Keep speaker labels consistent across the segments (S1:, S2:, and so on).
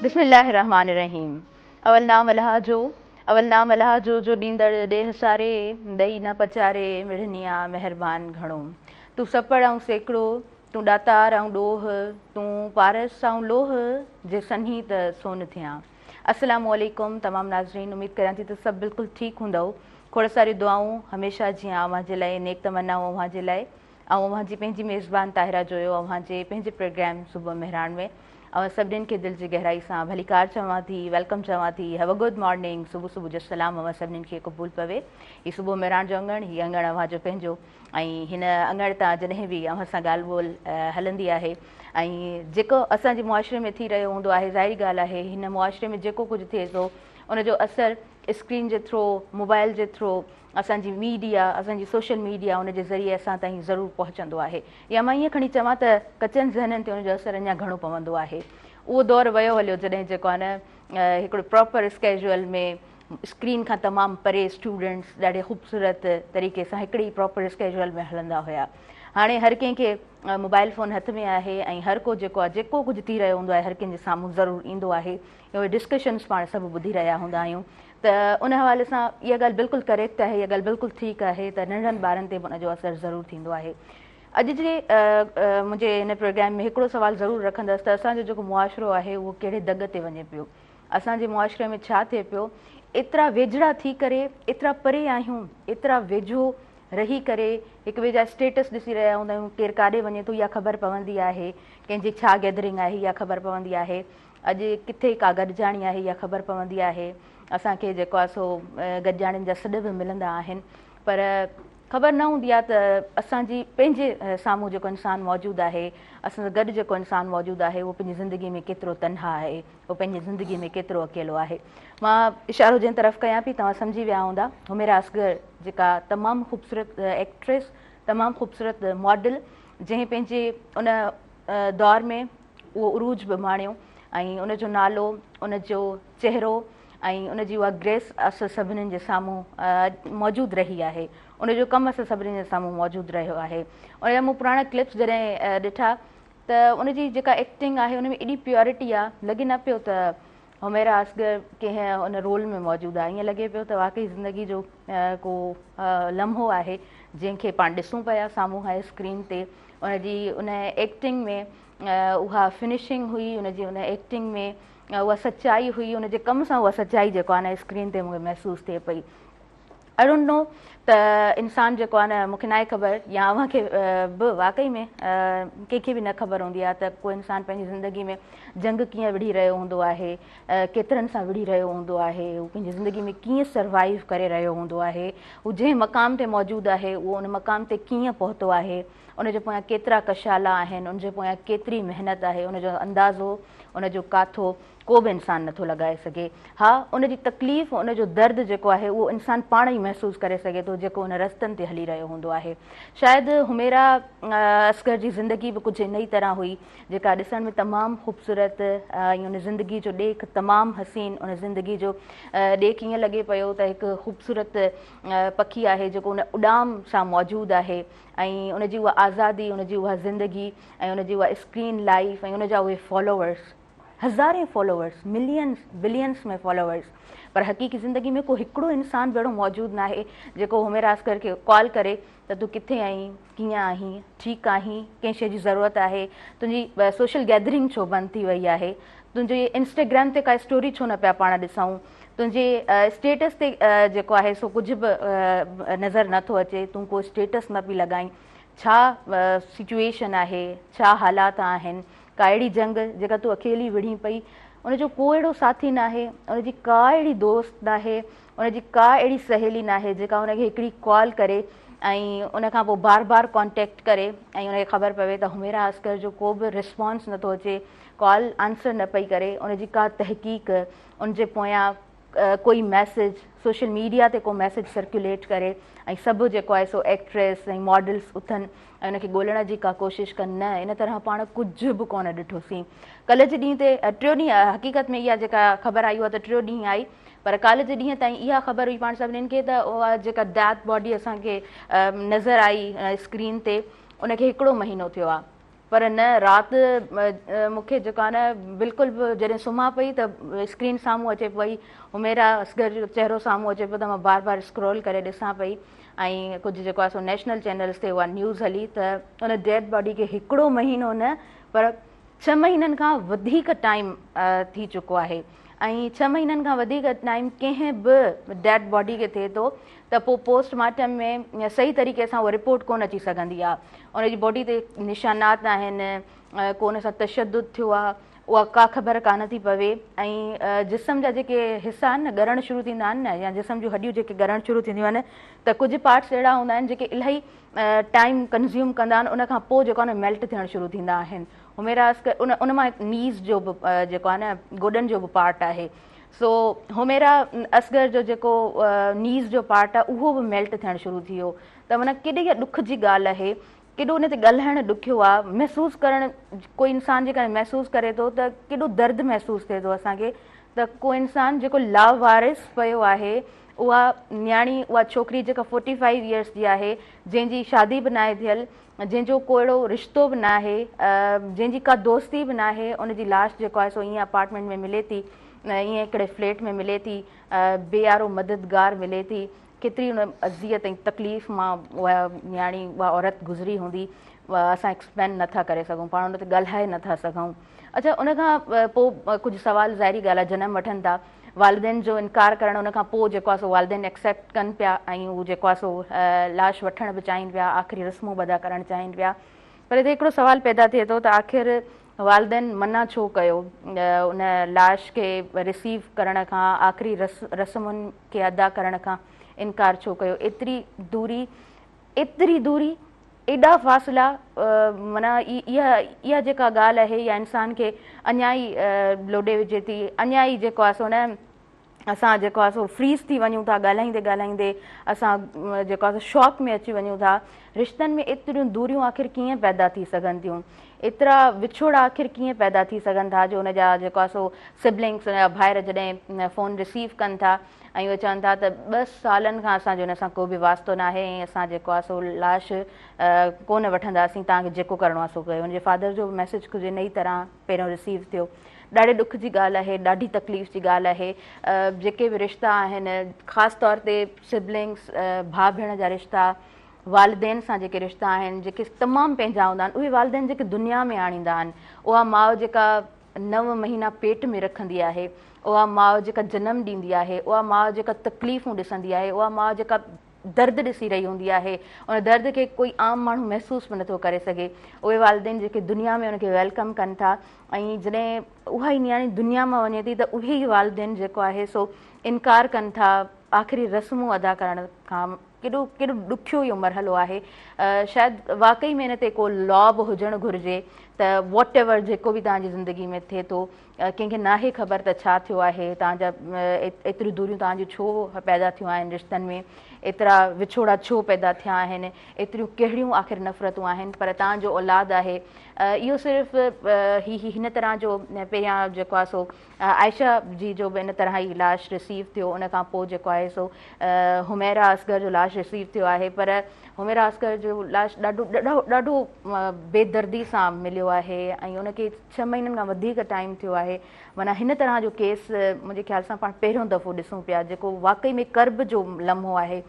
S1: بسم الله الرحمٰن الرحيم اول نام الله جو اول نام الله جو جو ڏيندڙ ڏيھ ساري ڏئي نه پچاري مڙنيا مهربان گهڻو تون سپڙ ۽ سيڪڙو تون ڏاتار آئون ڏوهه، تون پارس آئون لوهه، جي سنهين ته سون ٿيان. السلام عليڪم تمام ناظرين اميد ڪريان ٿي ته سڀ بلڪل ٺيڪ هوندئو کوڙ ساريون دعائون هميشه جيان اوهان جي لاء نيڪ تمنائون اوهان جي لاء آئون اوهان جي پنهنجي ميزبان طاهره جويو اوهان جي پنهنجي پروگرام صبح مهراڻ ۾ اوهان سڀنين کي دل جي گهرائي سان ڀليڪار چوان ٿي ويلڪم چوان ٿي هيو ا گڊ مارننگ صبح صبح جو سلام اوهان سڀنين کي قبول پوي هي صبح مهراڻ جو اڱڻ هي اڱڻ اوهان جو پنهنجو ۽ هن اڱڻ تان جڏهن به اوهان سان ڳالهه ٻولهه هلندي آهي ۽ جيڪو اسان جي معاشري ۾ ٿي رهيو هوندو آهي ظاهري ڳالهه آهي هن معاشري ۾ جيڪو ڪجهه ٿئي ٿو ان جو اثر اسڪرين جي ٿرو موبائل جي ٿرو اسان جي ميڊيا اسان جي سوشل ميڊيا ان جي ذريعي اسان تائين ضرور پهچندو آهي يا مان ائين کڻي چوان ته ڪچن ذهنن تي ان جو اثر اڃا گهڻو پوندو آهي اهو دور ويو هليو جڏهن جيڪو آهي نه هڪڙو پراپر اسڪيجول ۾ اسڪرين کان تمام پري اسٽوڊنٽس ڏاڍي خوبصورت طريقي سان هڪڙي ئي پراپر اسڪيجول ۾ هلندا هيا هاڻي هر ڪنهن کي موبائل فون هٿ ۾ آهي ۽ هر ڪو جيڪو آهي جيڪو ڪجهه ٿي رهيو هوندو آهي هر ڪنهن جي سامهون ضرور ايندو آهي اهي ڊسڪشنس پاڻ سڀ ٻڌي رهيا هوندا آهيون ته ان حوالي سان اها ڳالهه بلڪل ڪريڪٽ آهي اها ڳالهه بلڪل ٺيڪ آهي ته ننڍن ٻارن تي به ان جو اثر ضرور ٿيندو آهي اڄ جي منهنجي هن پروگرام ۾ هڪڙو سوال ضرور رکندس ته اسان جو جيڪو معاشرو آهي اهو ڪهڙي دڳ تي وڃي پيو اسان جي معاشري ۾ ڇا ٿئي پيو، ايترا ويجھڙا ٿي ڪري ايترا پري آهيون، ايترا ويجھو رهي ڪري هڪ ٻئي جا اسٽيٽس ڏسي رهيا هوندا آهيون، ڪير ڪاڏي وڃي ٿو اها خبر پوندي آهي، ڪنهن جي ڇا گيدرنگ آهي اها خبر پوندي آهي، اڄ ڪٿي ڪا گڏجاڻي آهي اها خبر پوندي آهي، اسان کي جيڪو آهي سو گڏجاڻين جا سڏ به ملندا آهن پر خبر نه هوندي آهي ته اسان جي پنهنجي سامهون جيڪو انسان موجود آهي، اسان سان گڏ جيڪو انسان موجود آهي اهو پنهنجي زندگي ۾ ڪيترو تنها آهي. هو پنهنجي زندگيء ۾ ڪيترو اڪيلو آهي. مان اشارو جنهن طرف ڪيان پئي، توهان سمجهي ويا هوندا. حميرا اصغر جيڪا تمام خوبصورت ايڪٽريس، تمام خوبصورت ماڊل، جنهن پنهنجي ان دور ۾ اهو عروج به ماڻيو ۽ ان جو نالو، ان جو چهرو ۽ ان جي اها گريس اصل سڀني جي سامهون موجود رهي آهي. ان جو ڪم اصل سڀني جي سامهون موجود رهيو آهي. ان جا مون پراڻا ڪلپس جڏهن ڏٺا ته ان جي جيڪا ايڪٽنگ آهي ان ۾ ايڏي پيورٽي آ لڳي نه پيو ته حميرا اصغر ڪنهن ان رول ۾ موجود آ ائين لڳي پيو ته واقعي زندگي جو ڪو لمحو آهي جنهن کي پاڻ ڏسون پيا سامهون هاء اسڪرين تي ان جي ان ايڪٽنگ ۾ اها فنشنگ هئي ان جي ان ايڪٽنگ ۾ اها سچائي هئي ان جي ڪم سان اها سچائي جيڪو آ نه اسڪرين تي مون کي محسوس ٿئي پئي آئي ڊونٽ نو ته انسان جيڪو آهي نه مون کي ناهي خبر يا اوهان کي به واقعي ۾ ڪنهن کي به نه خبر هوندي آهي ته ڪو انسان پنهنجي زندگي ۾ جنگ ڪيئن وڙهي رهيو هوندو آهي ڪيترن سان وڙهي رهيو هوندو آهي هو پنهنجي زندگي ۾ ڪيئن سروائيو ڪري رهيو هوندو آهي هو جنهن مقام تي موجود آهي اهو ان مقام تي ڪيئن پهتو آهي ان جي پويان ڪيترا ڪشالا آهن ان جي پويان ڪيتري محنت آهي ان جو اندازو ان جو ڪاٿو ڪو به انسان نه ٿو لڳائي سگهي. ها، ان جي تڪليف ۽ ان جو درد جيڪو آهي اهو انسان پاڻ ئي محسوس ڪري سگهي ٿو جيڪو ان رستن تي هلي رهيو هوندو آهي. شايد حميرا اصغر جي زندگي به ڪجهه انهيء طرح هئي جيڪا ڏسڻ ۾ تمام خوبصورت ۽ ان زندگي جو ڏيک تمام حسين ان زندگي جو ڏيک ائين لڳي پيو ته هڪ خوبصورت پکي آهي جيڪو ان اڏام سان موجود آهي ۽ ان جي اها آزادي ان جي اها زندگي ۽ ان جي اها اسڪرين لائيف ۽ ان جا اهي فالوورس هزارين فالوورس، ملينز، بلينز ۾ فالوورس پر حقيقي زندگي ۾ ڪو هڪڙو انسان به اهڙو موجود ناهي جيڪو هميراسگر کي ڪال ڪري ته تون ڪٿي آهين، ڪيئن آهين، ٺيڪ آهين، ڪنهن شيء جي ضرورت آهي، تنهنجي سوشل گيدرنگ ڇو بند ٿي وئي آهي، تنهنجي انسٽاگرام تي ڪا اسٽوري ڇو نه پيا پاڻ ڏسائون، تنهنجي اسٽيٽس تي جيڪو آهي سو ڪجهه به نظر نه ٿو اچي، تون ڪو اسٽيٽس نه پئي لڳائين، ڇا سچوئيشن آهي، ڇا حالات آهن، ڪا اهڙي جنگ جيڪا تون اڪيلي وڙهين پئي، ان جو ڪو اهڙو ساٿي ناهي، ان جي ڪا اهڙي دوست ناهي، ان جي ڪا اهڙي سهيلي ناهي جيڪا ان کي هڪڙي ڪال ڪري ۽ ان کانپوء بار بار ڪانٽيڪٽ ڪري ۽ ان کي خبر پوي ته حميرا عسڪر جو ڪو به ريسپانس نٿو اچي، ڪال آنسر نه پئي ڪري، ان جي ڪا تحقيق، ان جي پويان ڪوئي ميسيج سوشل ميڊيا تي ڪو ميسيج سرڪيوليٽ ڪري ۽ سڀ جيڪو آهي سو ايڪٽريس ۽ ماڊلس اٿن ۽ ان کي ڳولڻ جي ڪا ڪوشش ڪن نه ان طرح پاڻ ڪجهه به ڪونه ڏٺوسين ڪل جي ڏينهن تي ٽيو ڏينهن حقيقت ۾ اها جيڪا خبر آئي هئا ته ٽيو ڏينهن آئي پر ڪالهه جي ڏينهن تائين اها خبر هئي پاڻ سڀنين کي ته اها جيڪا ڊيٿ باڊي اسان کي نظر آئي اسڪرين تي ان کي هڪڙو مهينو ٿيو آهي پر نه رات مون کي جيڪو آهي نه بلڪل به جڏهن سمهان پئي ته اسڪرين سامهون اچي پئي حميرا اصغر جو چهرو سامهون اچي پيو ته مان بار بار اسڪرول ڪري ڏسان پئي ۽ ڪجهه جيڪو آهي سو نيشنل چينلز تي اها نيوز هلي ته ان ڊيڊ باڊي کي هڪڙو مهينو نه پر ڇهه مهينن کان وڌيڪ ٽائيم ٿي چڪو آهي ۽ ڇهه مهينن کان وڌيڪ ٽائيم ڪنهن به ڊيڊ باڊي کي ٿئي ٿو ته پوء پوسٽ مارٽم ۾ صحيح طريقي سان اها رپورٽ ڪونه اچي سگهندي آهي ان جي باڊي تي نشانات آهن ڪو ان سان تشدد ٿيو آهي اها ڪا خبر ڪانه ٿي پوي ۽ جسم جا جيڪي حصا آهن نه ڳرڻ شروع ٿيندا آهن نه يا جسم جون هڏيون جيڪي ڳرڻ شروع ٿينديون آهن ته ڪجهه پارٽس اهڙا هوندا آهن جيڪي الاهي ٽائيم ڪنزيوم ڪندا آهن ان کان پوء جيڪو آهن ميلٽ ٿيڻ شروع ٿيندا آهن حميرا اسڪ ان ان مان نيز جو به جيڪو آهي نه گوڏن جو به پارٽ آهي سو حميرا اصغر جو جيڪو نيز جو پارٽ آهي اهو به ميلٽ ٿيڻ شروع ٿي ويو ته معنی ڪيڏي ڏک جي ڳالهه آهي ڪيڏو ان تي ڳالهائڻ ڏکيو آهي محسوس ڪرڻ ڪو انسان جيڪڏهن محسوس ڪري ٿو ته ڪيڏو درد محسوس ٿئي ٿو اسان کي ته ڪو انسان جيڪو لاوارث پيو آهي اها نياڻي اها ڇوڪري جيڪا فورٽي فائيو ايئرس جي آهي جنهن جي شادي به ناهي ٿيل جنهن جو ڪو اهڙو رشتو به ناهي جنهن جي ڪا دوستي به ناهي ان جي لاش جيڪو آهي سو ائين اپارٽمينٽ ۾ ملي ٿي ائين هڪڙي فليٽ ۾ ملي ٿي بي آرو مددگار ملي ٿي ڪيتري ان اذيت ۽ تڪليف مان اها نياڻي اها عورت گذري هوندي اسان ايڪسپلين نٿا ڪري سگهون پاڻ ان تي ڳالهائي نٿا سگهون اچھا ان کان پوء ڪجهه سوال ظاهري ڳالهه جنم وٺن ٿا والدين جو انڪار ڪرڻ ان کان پوء جيڪو آهي سو والدين ايڪسيپٽ ڪن پيا ۽ هو جيڪو آهي سو لاش وٺڻ به چاهين پيا آخري رسمون به ادا ڪرڻ چاهين پيا پر هتي هڪڙو سوال پيدا ٿئي ٿو ته آخر والدين منع ڇو ڪيو ان لاش کي رسيو ڪرڻ کان آخري رسمن کي ادا ڪرڻ کان انڪار ڇو ڪيو ايتري دوري ايتري دوري، ايڏا فاصلا، معنيٰ اها اها جيڪا ڳالهه آهي يا انسان کي اڃا ئي لوڏي وجهي ٿي، اڃا ئي جيڪو آهي سو نه اسان جيڪو آهي سو فريز ٿي وڃون ٿا، ڳالهائيندي ڳالهائيندي اسان جيڪو آهي سو شاڪ ۾ اچي وڃون ٿا. رشتن ۾ ايتريون دوريون آخر ڪيئن پيدا ٿي سگهن ٿيون؟ ايترا وڇوڙا آخر ڪيئن پيدا ٿي سگهن ٿا جو ان جا جيڪو آهي سو سبلنگس ان جا ڀائر جڏهن فون رسيو ڪن ٿا ۽ اهي چون ٿا ته ٻه سالن کان اسان جو ان سان ڪو به واسطو ناهي ۽ اسان جيڪو آهي سو لاش ڪو نه وٺنداسين توهان کي جيڪو ڪرڻو آهي سو ڪيو ان جي فادر جو به ميسيج ڪجهه ان ئي طرح پهريون رسيو ٿيو ڏاڍي ڏک جي ڳالهه آهي ڏاڍي تڪليف جي ڳالهه آهي جيڪي به رشتا آهن خاص طور تي سبلنگس ڀاء ڀيڻ جا رشتا والدين سان جيڪي رشتا آهن جيڪي تمام پنهنجا هوندا آهن اهي والدين جيڪي دنيا ۾ آڻيندا آهن اها ماء جيڪا نو مهينا پيٽ ۾ رکندي آهي، اها ماء جيڪا جنم ڏيندي آهي، اها ماء جيڪا تڪليفون ڏسندي آهي، اها ماء جيڪا درد ڏسي رهي هوندي آهي، ان درد کي ڪوئي عام ماڻهو محسوس به نٿو ڪري سگهي، اهي والدين جيڪي دنيا ۾ ان کي ويلڪم ڪن ٿا ۽ جڏهن اها ئي نياڻي دنيا مان وڃي ٿي ته اهي ئي والدين جيڪو آهي سو انڪار ڪن ٿا آخري رسمون ادا ڪرڻ کان. ڪيڏو ڪيڏو ڏکيو اهو مرحلو آهي شايد واقعي ۾ ان تي ڪو لا به هجڻ گهرجي ته واٽ ايور جيڪو به تنهنجي زندگي ۾ ٿئي ٿو ڪنهن کي ناهي خبر ته ڇا ٿيو آهي تنهنجا ايتريون دوريون تنهنجو ڇو پيدا ٿيون آهن رشتن ۾ ايترا وڇوڙا ڇو پيدا ٿيا آهن ايتريون ڪهڙيون آخر نفرتون آهن پر تنهنجو اولاد آهي اهو صرف هي هن طرح جو پهريان جيڪو آهي سو عائشه جي جو به ان طرح هي لاش ريسيو ٿيو ان کان پوء جيڪو آهي سو حميرا اصغر جو لاش ريسيو ٿيو آهي پر حميرا اصغر جو لاش ڏاڍو ڏاڍو بي دردي سان مليو آهي ۽ ان کي ڇهه مهينن کان وڌيڪ ٽائيم ٿيو آهي معنيٰ هن طرح جو ڪيس منهنجي خيال سان پاڻ پهريون دفعو ڏسون پيا جيڪو واقعي ۾ ڪرب جو لمحو آهي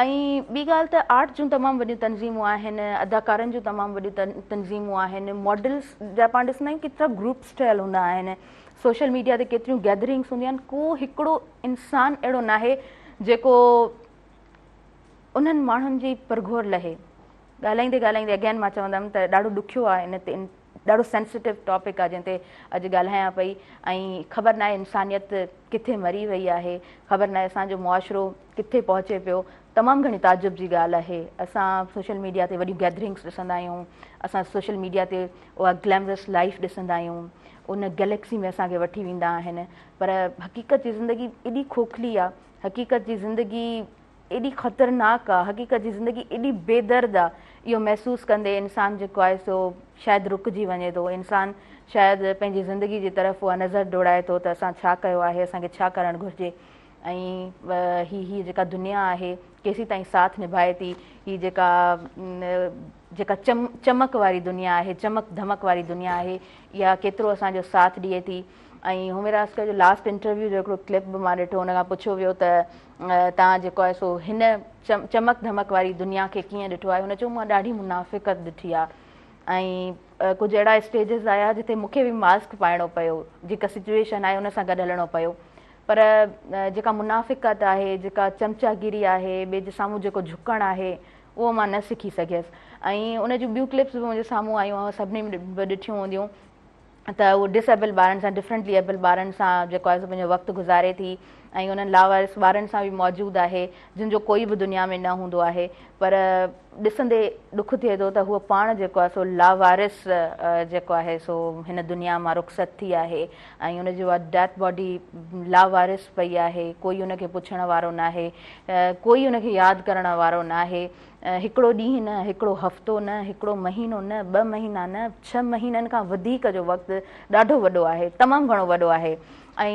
S1: ۽ ٻي ڳالهه ته آرٽ جون تمام وڏيون تنظيمون آهن، اداڪارن جون تمام وڏيون تنظيمون آهن، ماڊلز جا پاڻ ڏسندا آهيون ڪيترا گروپس ٺهيل هوندا آهن، سوشل ميڊيا تي ڪيتريون گيدرنگس هونديون آهن، ڪو هڪڙو انسان اهڙو ناهي جيڪو انهن ماڻهن جي پرگهور لهي. ڳالهائيندي ڳالهائيندي اگين مان چوندم ته ڏاڍو ڏکيو آهي ان تي ڏاڍو سينسيٽو ٽاپڪ آهي جنهن تي اڄ ڳالهايان پئي ۽ خبر ناهي انسانيت ڪٿي مري وئي آهي خبر ناهي اسان جو معاشرو ڪٿي پهچي پيو تمام گهڻي تعجب جي ڳالهه آهي اسان سوشل ميڊيا تي وڏيون گيدرنگس ڏسندا آهيون اسان سوشل ميڊيا تي اها گليمرس لائيف ڏسندا آهيون ان گليڪسي ۾ اسان کي وٺي ويندا آهن پر حقيقت جي زندگي ايڏي کوکلي آهي حقيقت جي زندگي ايڏي خطرناڪ آهي حقيقت جي زندگي ايڏي بي درد آهي اهو محسوس ڪندي انسان جيڪو آهي سو شايد رڪجي وڃي ٿو انسان شايد پنهنجي زندگي جي طرف اها نظر ڊوڙائي ٿو ته اسان ڇا ڪيو آهي اسان کي ڇا ڪرڻ گهرجي ۽ هي جيڪا دنيا آهي ڪيسين تائين ساٿ نڀائي ٿي هي جيڪا جيڪا چم چمڪ واري دنيا آهي چمڪ ڌمڪ واري دنيا آهي اها ڪيترو اسان جو ساٿ ڏئي ٿي ۽ هومير آسڪر جو لاسٽ انٽرويو جو هڪڙو ڪلپ به مان ڏٺو ان کان پڇيو ويو ته تان جيڪو آهي سو هن چمڪ ڌمڪ واري دنيا کي ڪيئن ڏٺو آهي هن چيو مان ڏاڍي منافقت ڏٺي آهي ۽ ڪجهه اهڙا اسٽيجز آيا جتي مونکي به ماسڪ پائڻو پيو جيڪا سچويشن آهي ان سان گڏ هلڻو پيو پر جيڪا منافقت آهي، جيڪا چمچاگيري آهي، ٻئي جي سامهون جيڪو جهڪڻ آهي، اهو مان نه سکي سگهيس. ۽ ان جون ٻيون ڪلپس به منهنجي سامهون آيون، اوهان سڀني به ڏٺيون هونديون ته هوء ڊس ايبل ٻارن سان، ڊفرنٽلي ايبل ٻارن سان جيڪو آهي سو پنهنجو وقت گذاري ٿي ۽ انهن لاوارث ٻارن سان به موجود آهي، جن جو ڪوئي به دنيا ۾ نه هوندو آهي. پر ڏسندي ڏک ٿئي ٿو ته هوء پاڻ جيڪو آهي سو لاوارث جيڪو آهي سو هن دنيا مان رخصت ٿي آهي. ۽ ان جي بعد ڊيٿ باڊي لاوارث پئي آهي، ڪوئي ان کي پڇڻ وارو ناهي، ڪوئي ان کي ياد ڪرڻ وارو ناهي، هڪڙو ڏينهن نه، هڪڙو هفتو نه، هڪڙو مهينو نه، ٻه مهينا نه، ڇهه مهينن کان وڌيڪ جو وقت ڏاڍو وڏو آهي، تمام گهڻو وڏو آهي ۽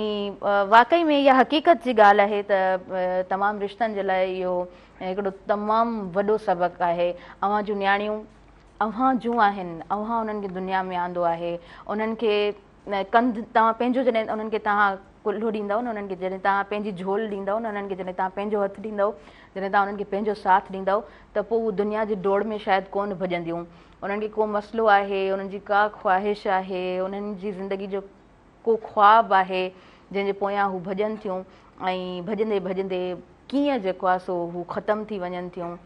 S1: واقعي ۾ اها حقيقت جي ڳالهه آهي ته تمام رشتن جي لاء اهو هڪڙو تمام وڏو سبق آهي، اوهان جون نياڻيون اوهان جون آهن، اوهان انهن کي دنيا ۾ آندو آهي، انهن کي ڪنڌ توهان پنهنجو جڏهن انهن کي توهان ڪلهو ڏيندؤ نه انهن کي جڏهن توهان پنهنجي جهول ڏيندؤ نه انهن کي جڏهن توهان پنهنجو هٿ ڏيندؤ جڏهن توهان انهن کي پنهنجو ساٿ ڏيندؤ ته پوء هو دنيا جي ڊوڙ ۾ شايد ڪونه ڀڄنديون انهن کي ڪو مسئلو آهي انهن جي ڪا خواهش آهي انهن جي زندگي جو ڪو خواب آهي جنهن جي پويان هو ڀڄن ٿيون ۽ ڀڄندي ڀڄندي ڪيئن جيڪو آهي سو هو ختم ٿي وڃن ٿيون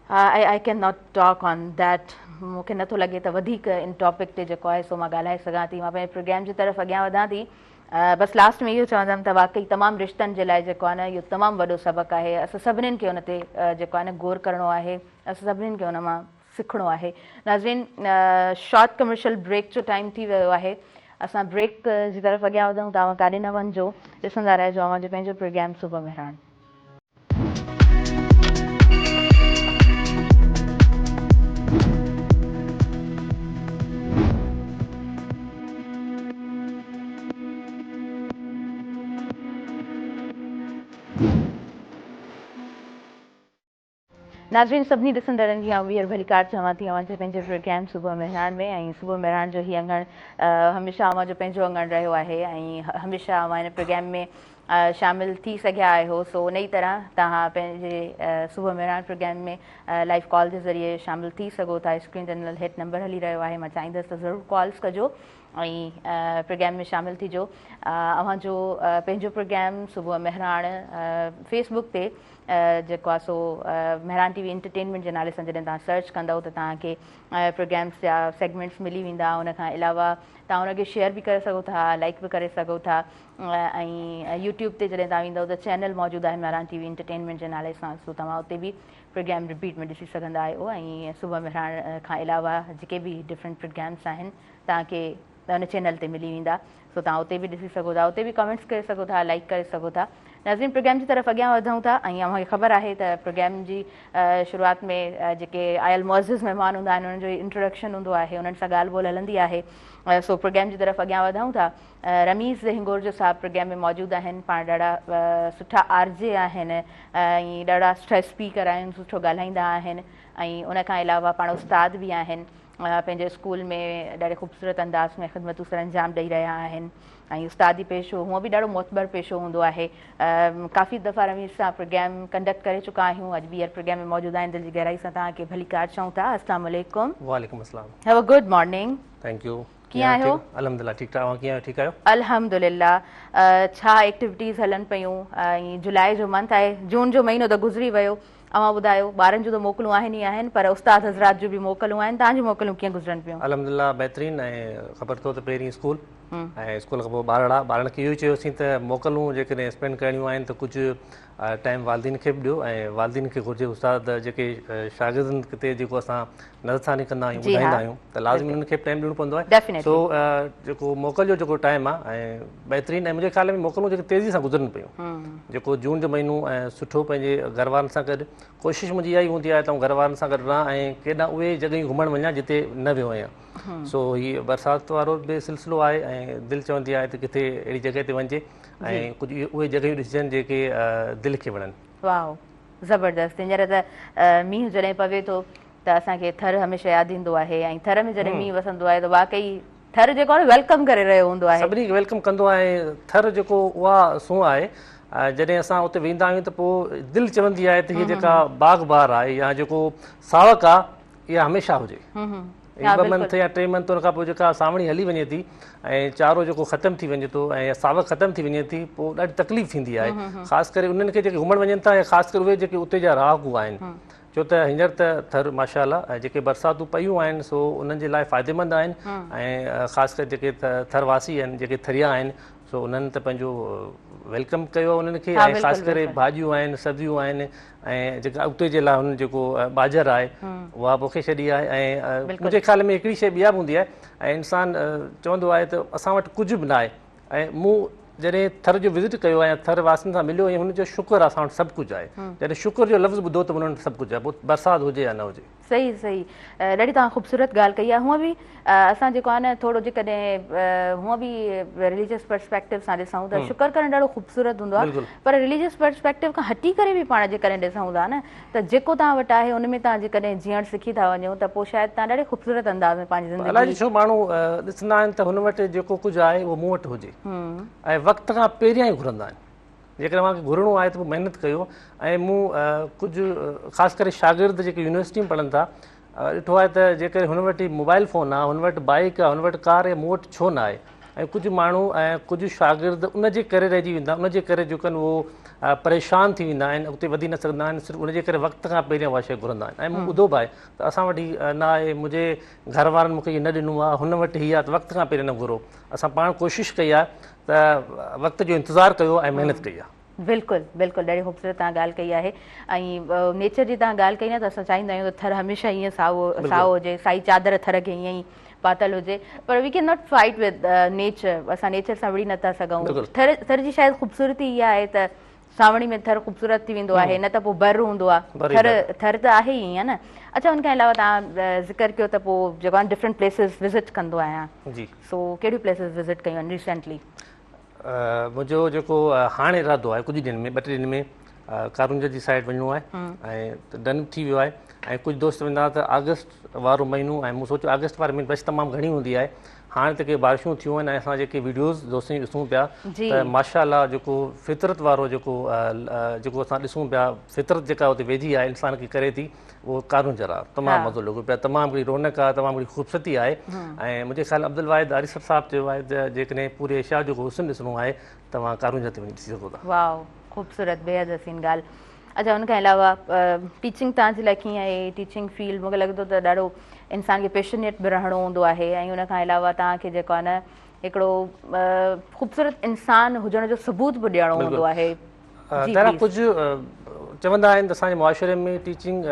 S1: I can not talk on that مون کي نٿو لڳي ته وڌيڪ ان ٽاپڪ تي جيڪو آهي سو مان ڳالهائي سگهان ٿي مان پنهنجي پروگرام جي طرف اڳيان وڌان ٿي بس لاسٽ ۾ اهو چوندم ته واقعي تمام رشتن جي لاء جيڪو آهي نه اهو تمام وڏو سبق آهي اسان سڀنين کي ان تي جيڪو آهي نه غور ڪرڻو آهي اسان سڀنين کي ان مان سکڻو آهي ناظرين شارٽ ڪمرشل بريڪ جو ٽائيم ٿي ويو آهي اسان بريڪ جي طرف اڳيان وڌون ته اوهان ڪاڏي نه وڃجو ڏسندا رهجو اوهان جو پنهنجو پروگرام صبح مهراڻ ناظرين سڀني ڏسندڙن جي آئون ٻيهر ڀليڪار چوان ٿي اوهان جي پنهنجي پروگرام صبح مهراڻ ۾ ۽ صبح مهراڻ جو هي اڱڻ هميشه اوهان جو پنهنجو اڱڻ رهيو آهي ۽ هميشه اوهان هن پروگرام ۾ شامل ٿي سگهيا آهيو سو انهي طرح توهان پنهنجي صبح مهراڻ پروگرام ۾ لائيو ڪال جي ذريعي شامل ٿي سگهو ٿا اسڪرين تي ڏنل هيٺ نمبر هلي رهيو آهي مان چاهيندس ته ضرور ڪالز ڪجو ۽ پروگرام ۾ شامل ٿيجو اوهان جو پنهنجو پروگرام صبح مهراڻ فيس بڪ تي جيڪو آهي سو مهراڻ ٽي وي انٽرٽينمينٽ جي نالي سان جڏهن توهان سرچ ڪندو ته توهان کي پروگرامس جا سيگمينٽس ملي ويندا ان کان علاوه توهان ان کي شيئر به ڪري سگهو ٿا لائڪ به ڪري سگهو ٿا ۽ يوٽيوب تي جڏهن توهان ويندؤ ته چينل موجود آهن مهراڻ ٽي وي انٽرٽينمينٽ جي نالي سان سو توهان اتي به پروگرام رپيٽ ۾ ڏسي سگهندا آهيو ۽ صبح مهراڻ کان علاوه جيڪي به ڊفرنٽ پروگرامس آهن توهان کي ان چينل تي ملي ويندا سو توهان اتي به ڏسي سگهو ٿا اتي به ڪمينٽس ڪري سگهو ٿا لائڪ ڪري سگهو ٿا ناظرين پروگرام جي طرف اڳيان وڌون ٿا ۽ اوهان کي خبر آهي ته پروگرام جي شروعات ۾ جيڪي آيل معزز مهمان هوندا آهن انهن جو انٽروڊڪشن هوندو آهي انهن سان ڳالهه ٻولهه هلندي آهي سو پروگرام جي طرف اڳيان وڌون ٿا رميز هنگور جو صاحب پروگرام ۾ موجود آهن پاڻ ڏاڍا سٺا آر جي آهن ۽ ڏاڍا سٺا اسپيڪر آهن سٺو ڳالهائيندا آهن ۽ ان کان علاوه پاڻ استاد به آهن پنهنجو اسڪول ۾ ڏاڍي خوبصورت انداز ۾ خدمتون سر انجام ڏئي رهيا آهن ۽ استادي پيشو هونء به ڏاڍو معتبر پيشو هوندو آهي ڪافي دفعا رميز سان پروگرام ڪنڊڪٽ ڪري چڪا آهيون اڄ ٻيهر پروگرام ۾ موجود آهن دل جي گهرائي سان توهان کي ڀليڪار چئون ٿا السلام عليڪم وعليڪم السلام have
S2: a good morning
S1: thank you ڪيئن
S2: آهيو؟ الحمدلله
S1: ٺيڪ ٺاڪ اوهان ڪيئن
S2: آهيو ٺيڪ آهيو؟ الحمدلله
S1: ڇا ايڪٽيوٽيز هلن پيون ۽ جولاء جو منٿ آهي جون جو مهينو ته گذري ويو اوهان ٻڌايو ٻارن جون ته موڪلون آهن ئي آهن پر استاد حضرات جون به موڪلون آهن تهان جون موڪلون ڪيئن گذرن پيون؟ الحمدلله بهترين ۽
S2: خبر اٿو ته پهرين اسڪول ۽ اسڪول کان پوء ٻارڙا ٻارڙن کي اهو ئي چيوسين ته موڪلون جيڪڏهن اسپينڊ ڪرڻيون آهن ته ڪجهه ٽائيم والدين کي به ڏيو ۽ والدين کي گهرجي استاد جيڪي شاگردن تي جيڪو اسان نظر ثاني ڪندا آهيون ٻڌائيندا آهيون ته لازمي انهن کي به ٽائيم ڏيڻو پوندو آهي سو جيڪو موڪل جو جيڪو ٽائيم آهي ۽ بهترين ۽ منهنجي خيال ۾ موڪلون جيڪي تيزي سان گذرن پيون جيڪو جون جو مهينو ۽ سٺو پنهنجي گهر وارن سان گڏ ڪوشش منهنجي اها ئي هوندي آهي ته آئون گهر وارن سان گڏ رهان ۽ ڪيڏا اهي جڳهيون گهمڻ وڃان جتي نه ويو آهيان سو هي برسات وارو به سلسلو آهي ۽ دل چوندي آهي ته ڪٿي اهڙي جڳهه تي وڃجي ۽ ڪجهه اهي جڳهيون ڏسجن جيڪي دل کي وڻن واهو زبردست
S1: هينئر ته مينهن جڏهن پوي ٿو ته اسان کي ٿر هميشه ياد ايندو آهي ۽ ٿر ۾ جڏهن مينهن وسندو آهي ته واقعي ٿر جيڪو آهي ويلڪم ڪري رهيو هوندو آهي سڀني کي ويلڪم ڪندو آهي
S2: ٿر جيڪو اها سونهن آهي جڏهن اسان اتي ويندا آهيون ته پوء دل چوندي آهي ته هي جيڪا باغ بهار آهي يا جيڪو ساوڪ آهي اها هميشه هجي ھي ٻه منٿ يا ٽي منٿ ان کان پوء جيڪا سانوڻي ھلي وڃي ٿي ۽ چارو جيڪو ختم ٿي وڃي ٿو ۽ ساوڪ ختم ٿي وڃي ٿي پوء ڏاڍي تڪليف ٿيندي آھي خاص ڪري انھن کي جيڪي گھمڻ وڃن ٿا يا خاص ڪري اھي جيڪي اتي جا رھاڪو آھن ڇو ته ھينئر ته ٿر ماشا الله ۽ جيڪي برساتون پيون آھن سو انھن جي لاء فائديمند آھن ۽ خاص ڪري جيڪي ٿر واسي آھن جيڪي ٿريا آھن سو انھن ته پنھنجو ويلڪم ڪيو انھن کي ۽ خاص ڪري ڀاڄيون آھن سبزيون آھن ۽ جيڪا اڳتي جي لاء هن جيڪو ٻاجهر آهي اها پوکي ڇڏي آهي ۽ منهنجي خيال ۾ هڪڙي شيء ٻيا به هوندي آهي ۽ انسان چوندو آهي ته اسان وٽ ڪجهه به ناهي ۽ مون جڏهن ٿر جو وزٽ ڪيو آهي ٿر واسين سان مليو ۽ هن جو شڪر اسان وٽ سڀ ڪجهه آهي جڏهن شڪر جو لفظ ٻڌو ته انهن وٽ سڀ ڪجهه آهي برسات هجي يا نه هجي صحيح صحيح
S1: ڏاڍي توهان خوبصورت ڳالهه ڪئي آهي هونء به اسان جيڪو آهي نه ٿورو جيڪڏهن هونء به رليجس پرسپيڪٽو سان ڏسون ته شڪر ڪرڻ ڏاڍو خوبصورت هوندو آهي پر رليجس پرسپيڪٽو کان هٽي ڪري به پاڻ جيڪڏهن ڏسون ٿا نه ته جيڪو توهان وٽ آهي ان ۾ توهان جيڪڏهن جيئڻ سکي ٿا وڃو ته پوء شايد توهان ڏاڍي خوبصورت انداز ۾ پنهنجي زندگي الائجي ڇو ماڻهو
S2: ڏسندا آهن ته هن وٽ جيڪو ڪجهه آهي اهو مون وٽ هجي ۽ وقت کان پهريان ئي گهرندا آهن جيڪڏهن اوهان کي گهرڻو آهي ته پوء محنت ڪيو ۽ مون ڪجهه خاص ڪري شاگرد جيڪي يونيورسٽي ۾ پڙهن ٿا ڏٺو آهي ته جيڪڏهن هن وٽ موبائل فون آهي هن وٽ بائيڪ آهي هن وٽ ڪار آهي مون وٽ ڇو نه آهي ۽ ڪجهه ماڻهو ۽ ڪجهه شاگرد ان جي ڪري رهجي ويندا ان جي ڪري جو ڪن اهو پريشان ٿي ويندا آهن اڳتي وڌي نه سگهندا آهن صرف ان جي ڪري وقت کان پهريان اها شيء گهرندا آهن ۽ مون ٻڌو به آهي ته اسان وٽ هي نه آهي منهنجي گهر وارن مون کي هي نه ڏنو آهي هن وٽ هي آهي ته وقت کان پهريان نه گهرو اسان پاڻ ڪوشش ڪئي آهي ته وقت جو انتظار ڪيو ۽ محنت ڪئي آهي. بلڪل بلڪل
S1: ڏاڍي خوبصورت تهان ڳالهه ڪئي آهي ۽ نيچر جي تهان ڳالهه ڪئي نه ته اسان چاهيندا آهيون ته ٿر هميشه ائين سائو سائو هجي سائي چادر ٿر کي ائين ئي پاتل هجي پر we can not fight with nature اسان نيچر سان وڙهي نٿا سگهون ٿر ٿر جي شايد خوبصورتي اها آهي ته سانوڻي ۾ ٿر خوبصورت ٿي ويندو آهي نه ته پوء بر هوندو آ ٿر ٿر ته آهي ئي نه اچا ان کان علاوه تان ذڪر ڪيو ته پوء جيڪو آن ڊفرنٽ پليسز وزٽ ڪندو آهيان جي سو ڪهڙي پليسز وزٽ ڪيون آهن ريسنٽلي
S2: منهنجو جيڪو هاڻ ارادو آهي ڪجهه ڏينهن ۾ ٻه ٽي ڏينهن ۾ ڪارونجهر جي سائيڊ وڃڻو آهي ۽ ڊن ٿي ويو آهي ۽ ڪجهه دوست ويندا ته آگسٽ وارو مهينو ۽ مون سوچيو آگسٽ واري مهيني رش تمام گهڻي هوندي آهي هاڻي ته ڪي بارشون ٿيون آهن ۽ اسان جيڪي ويڊيوز دوستن جي ڏسون پيا ته ماشاء الله جيڪو فطرت وارو جيڪو جيڪو اسان ڏسون پيا فطرت جيڪا اتي ويجهي آهي انسان کي ڪري ٿي اهو قانون جرا تمام مزو لڳو پيا تمام گھڙي رونق آهي تمام گھڙي خوبصورتي آهي ۽ منهنجي خيال عبد الواحد آريسر صاحب چيو آهي ته جيڪڏهن پوري ايشيا جو حسن ڏسڻو آهي توهان قانون جا تي وڃي ڏسي سگھو ٿا واء خوبصورت
S1: بيحد حسين ڳالهه اچا ان کان علاوه ٽيچنگ توهان جي لاء ڪيئن آهي ٽيچنگ فيلڊ مونکي لڳي ٿو ته ڏاڍو انسان کي پيشنيٽ به رهڻو هوندو آهي ۽ ان کان علاوه توهان کي جيڪو آهي نه هڪڙو خوبصورت انسان هجڻ جو ثبوت به ڏيڻو هوندو آهي تهرا ڪجهه
S2: چوندا آهن ته اسان جي معاشري ۾ ٽيچنگ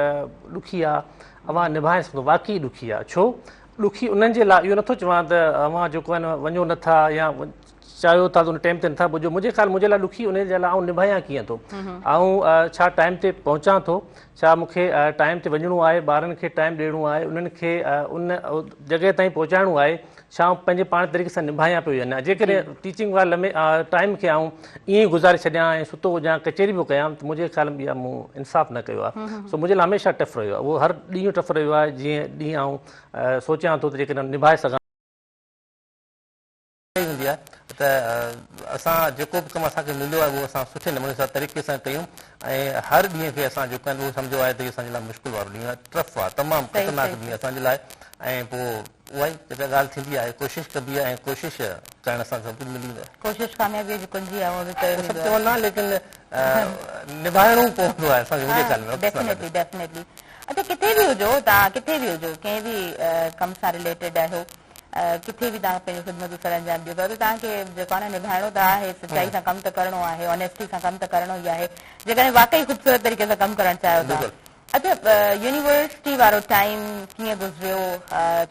S2: ڏکي آهي اوهان نڀائي سگهو واقعي ڏکي آهي ڇو ڏکي انهن جي لاء اهو نٿو چوان ته اوهان جيڪو آهن وڃو نٿا يا چاهيو ٿا ته ان ٽيم تي نٿا پڄو منهنجي خيال منهنجي لاء ڏکي انهي جي لاء آئون نڀايان ڪيئن ٿو آئون ڇا ٽائيم تي پهچان ٿو ڇا مون کي ٽائيم تي وڃڻو آهي ٻارن کي ٽائيم ڏيڻو آهي انهن کي ان جڳهه تائين پهچائڻو آهي ڇا آئون پنهنجي پاڻ طريقي سان نڀايان پيو يا نه جيڪڏهن ٽيچنگ واري لمي ٽائيم کي آئون ائين ئي گذاري ڇڏيان ۽ ستو هجان ڪچهري پيو ڪيان ته منهنجي خيال ۾ مون انصاف نه ڪيو آهي سو منهنجي لاء هميشه ٽف رهيو آهي اهو هر ڏينهن ٽف رهيو آهي جيئن ڏينهن آئون سوچيان ٿو ته جيڪڏهن نڀائي سگهان اها ئي هوندي آهي ته اسان جيڪو به ڪم اسان کي مليو آهي اهو اسان سٺي نموني سان طريقي سان ڪيون ۽ هر ڏينهن کي اسان جيڪو آهن اهو سمجهيو آهي ته اهو اسان جي لاء مشڪل وارو ڏينهن آهي ٽرف آهي تمام خطرناڪ ڏينهن اسان جي لاء ۽ پوء اها ئي جيڪا ڳالهه ٿيندي آهي ڪوشش ڪبي آهي ۽ ڪوشش ڪرڻ سان سڀ ڪجهه ملي ويندو آهي. ڪوشش ڪاميابيء جي ڪنجي
S1: آهي اهو به چيو ويندو آهي. سڀ چوندا آهن ليڪن
S2: نڀائڻو پوندو آهي اسان کي وڊيو چينل ۾. ڊيفنيٽلي ڊيفنيٽلي
S1: اچا ڪٿي به هجو توهان ڪٿي به هجو ڪنهن به ڪم سان رليٽيڊ آهيو ڪٿي به توهان پنهنجي خدمتون سر انجام ڏيو پيا ته توهان کي جيڪو آهي نه نڀائڻو ته آهي سچائي سان ڪم ته ڪرڻو آهي Honesty سان ڪم ته ڪرڻو ئي آهي جيڪڏهن واقعي خوبصورت طريقي سان ڪم ڪرڻ چاهيو ٿا اچا يونيورسٽي وارو ٽائيم ڪيئن گذريو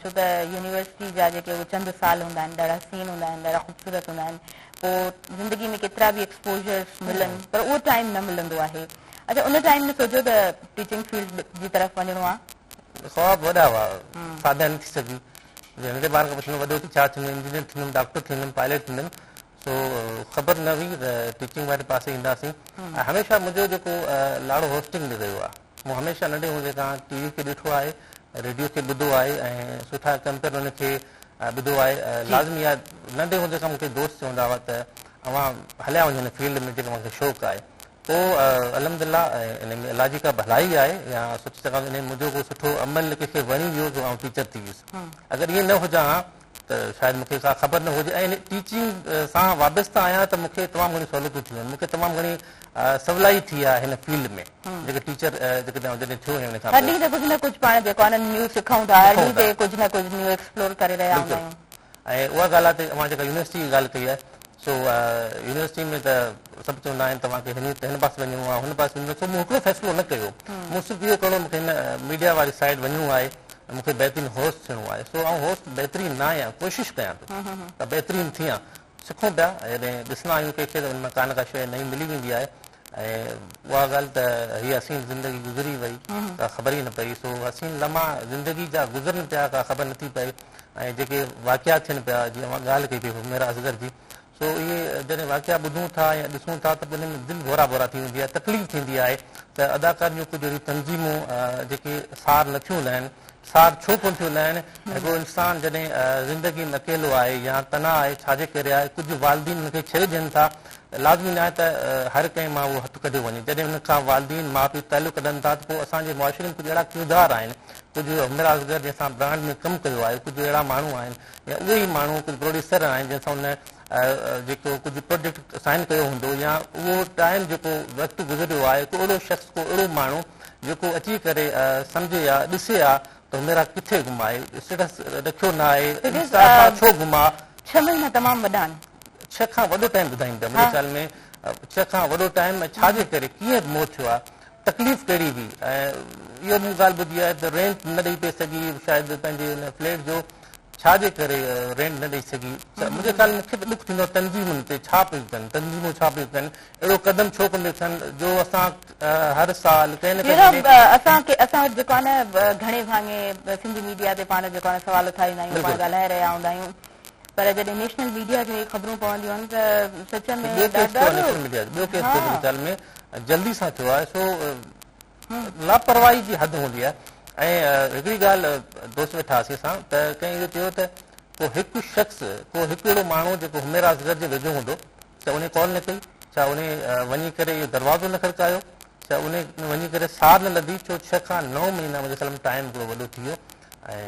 S1: ڇو ته يونيورسٽي جا جيڪي اهي چند سال هوندا آهن ڏاڍا حسين هوندا آهن ڏاڍا خوبصورت هوندا آهن پوء زندگي ۾ ڪيترا به ايڪسپوزرس ملن پر اهو ٽائيم نه ملندو آهي اچا ان ٽائيم ۾ سوچيو ته ٽيچنگ فيلڊ جي طرف وڃڻو آهي خواب وڏا
S2: هئا، سادا نه ٿي سگهيو. جنهن کي ٻارن کان پڇندو وڏو ٿي ڇا ٿيندين، انجنيئر ٿيندم، ڊاڪٽر ٿيندم، پائليٽ ٿيندم، سو خبر نه هئي ته ٽيچنگ واري پاسي اينداسين. هميشه منهنجو جيڪو لاڙو هوسٽنگ ڏي رهيو آهي. مون هميشه ننڍي هوندي کان ٽي وي کي ڏٺو آهي، ريڊيو کي ٻڌو آهي ۽ سٺا ڪمپيئر ان کي ٻڌو آهي. لازمي آهي ننڍي هوندي کان مون کي دوست چوندا هئا ته اوهان هليا وڃو هن فيلڊ ۾ جيڪو اوهان کي شوق آهي. پوء الحمدلله انهي ۾ الله جي ڪا ڀلائي آهي يا سوچي سگهان ٿو انهي ۾ منهنجو ڪو سٺو عمل ڪنهن کي وڻي ويو جو آئون ٽيچر ٿي ويس اگر ائين نه هجان ها ته شايد مون کي ڪا خبر نه هجي ۽ ٽيچنگ سان وابسته آهيان ته مون کي تمام گهڻيون سهولتون ٿيون آهن مون کي تمام گهڻي سولائي ٿي آهي هن فيلڊ ۾ جيڪي ٽيچر جيڪڏهن جڏهن ٿيو ۽ ان کان پوء هر ڏينهن تي ڪجهه نه ڪجهه پاڻ
S1: جيڪو آهي نه نيو سکون ٿا هر ڏينهن تي ڪجهه نه ڪجهه نيو ايڪسپلور ڪري رهيا هوندا آهيون ۽ اها ڳالهه
S2: آهي ته اوهان جيڪا يونيورسٽي جي ڳالهه ڪئي آهي سو يونيورسٽي ۾ ته سڀ چوندا آهن توهان کي هن پاسي وڃڻو آهي هن پاسي وڃڻو آهي سو مون هڪڙو فيصلو نه ڪيو مون صرف اهو ڪرڻو مون کي هن ميڊيا واري سائيڊ وڃڻو آهي مون کي بهترين هوسٽ ٿيڻو آهي سو آئون هوسٽ بهترين نه آهيان ڪوشش ڪيان ٿو ته بهترين ٿيان سکون پيا جڏهن ڏسندا آهيون ڪنهن کي ته ان مان ڪا نه ڪا شيء نئين ملي ويندي آهي ۽ اها ڳالهه ته هيء حسين زندگي گذري وئي ڪا خبر ئي نه پئي سو حسين لمحا زندگي جا گذرن پيا ڪا خبر نٿي پئي ۽ جيڪي واقعا ٿين پيا جي اوهان ڳالهه ڪئي پئي حميره اصغر جي سو اهي جڏهن واقعا ٻڌون ٿا يا ڏسون ٿا ته دلين ۾ دل ڀورا ڀورا ٿي ويندي آهي تڪليف ٿيندي آهي ته اداڪار جون ڪجهه اهڙيون تنظيمون جيڪي سار نٿيون لهن سار ڇو ڪون ٿيون لهن هڪڙو انسان جڏهن زندگي ۾ اڪيلو آهي يا تنها آهي ڇاجي ڪري آهي ڪجهه والدين ان کي ڇهي ڏين ٿا لازمي ناهي ته هر ڪنهن مان اهو هٿ ڪڍيو وڃي جڏهن ان کان والدين ماء پيء تعلق ڪڍن ٿا ته پوء اسان جي معاشري ۾ ڪجهه اهڙا ڪردار آهن ڪجهه عمرا اصغر جنهن سان برانڊ ۾ ڪم ڪيو آهي ڪجهه اهڙا ماڻهو آهن يا اهي ئي ماڻهو ڪجهه پروڊيوسر آهن جنهن سان هن جيڪو ڪجهه پروجيڪٽ سائن ڪيو هوندو يا اهو ٽائيم جيڪو وقت گذريو آهي ڪو اهڙو شخص ڪو اهڙو ماڻهو جيڪو اچي ڪري سمجهي ها ڏسي ها ته هميرا ڪٿي گم آهي اسٽيٽس رکيو نه آهي انسٽا تان ڇو گم آهي ڇهه مهينا تمام
S1: وڏا آهن ڇهه کان وڏو
S2: ٽائيم ٻڌائين پيا منهنجي خيال ۾ ڇهه کان وڏو ٽائيم ۽ ڇا جي ڪري ڪيئن گمو ٿيو آهي تڪليف ڪهڙي هئي ۽ اها مون ڳالهه ٻڌي آهي ته رينٽ نه ڏئي پئي سگهي شايد پنهنجي ان فليٽ جو ڇا جي ڪري رينٽ نه ڏئي سگهي منهنجي خيال مون کي ته ڏک ٿيندو تنظيمن تي ڇا پيون ڪن تنظيمون ڇا پيون ڪن اهڙو قدم ڇو ڪن پيون ٿين جو اسان هر سال ڪنهن نه ڪنهن نيٺ اسان کي اسان وٽ جيڪو
S1: آهي نه گهڻي ڀاڱي سنڌي ميڊيا تي پاڻ جيڪو آهي سوال اٿاريندا آهيون پاڻ ڳالهائي رهيا هوندا آهيون پر جڏهن نيشنل ميڊيا کي اهي خبرون پونديون آهن ته سچ ۾ ٻيو ڪيس ٿيو آهي نيشنل ميڊيا جو ٻيو
S2: ڪيس ٿيو منهنجي خيال ۾ جلدي سان ٿيو آهي سو لاپرواهي جي حد هوندي آهي ۽ هڪڙي ڳالهه دوست ويٺا هئاسين اسان ته ڪنهن اهو چيو ته ڪو هڪ شخص ڪو هڪ اهڙو ماڻهو جيڪو هميرا اصغر جي ويجهو هوندو ڇا انهي ڪال نه ڪئي ڇا انهي وڃي ڪري اهو دروازو نه کڙڪايو ڇا انهي وڃي ڪري سار نه لڌي ڇو ڇهه کان نو مهينا منهنجي خيال ۾ ٽائيم هڪڙو وڏو ٿي ويو ۽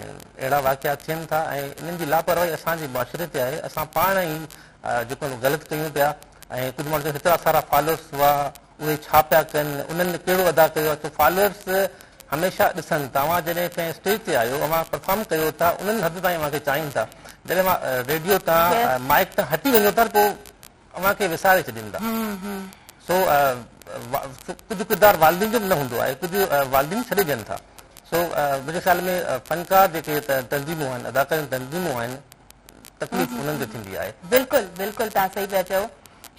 S2: اهڙا واقعا ٿين ٿا ۽ انهن جي لاپرواهي اسان جي معاشري تي آهي اسان پاڻ ئي جيڪو غلط ڪيون پيا ۽ ڪجهه ماڻهو چون هيترا سارا فالورس هئا اهي ڇا پيا ڪن انهن ڪهڙو ادا ڪيو آهي ڇو فالورس هميشه ڏسن ٿا اوهان جڏهن ڪنهن اسٽيج تي آهيو اوهان پرفارم ڪيو ٿا انهن حد تائين اوهان کي چاهين ٿا جڏهن اوهان ريڊيو تان مائڪ تان هٽي وڃو ٿا پوء اوهان کي وساري ڇڏين ٿا سو ڪجهه ڪردار والدين جو به نه هوندو آهي ڪجهه والدين ڇڏي ڏين ٿا سو منهنجي خيال ۾ فنڪار جيڪي تنظيمون آهن اداڪاري تنظيمون آهن تڪليف انهن کي ٿيندي آهي بلڪل بلڪل تان
S1: صحيح پيا چئو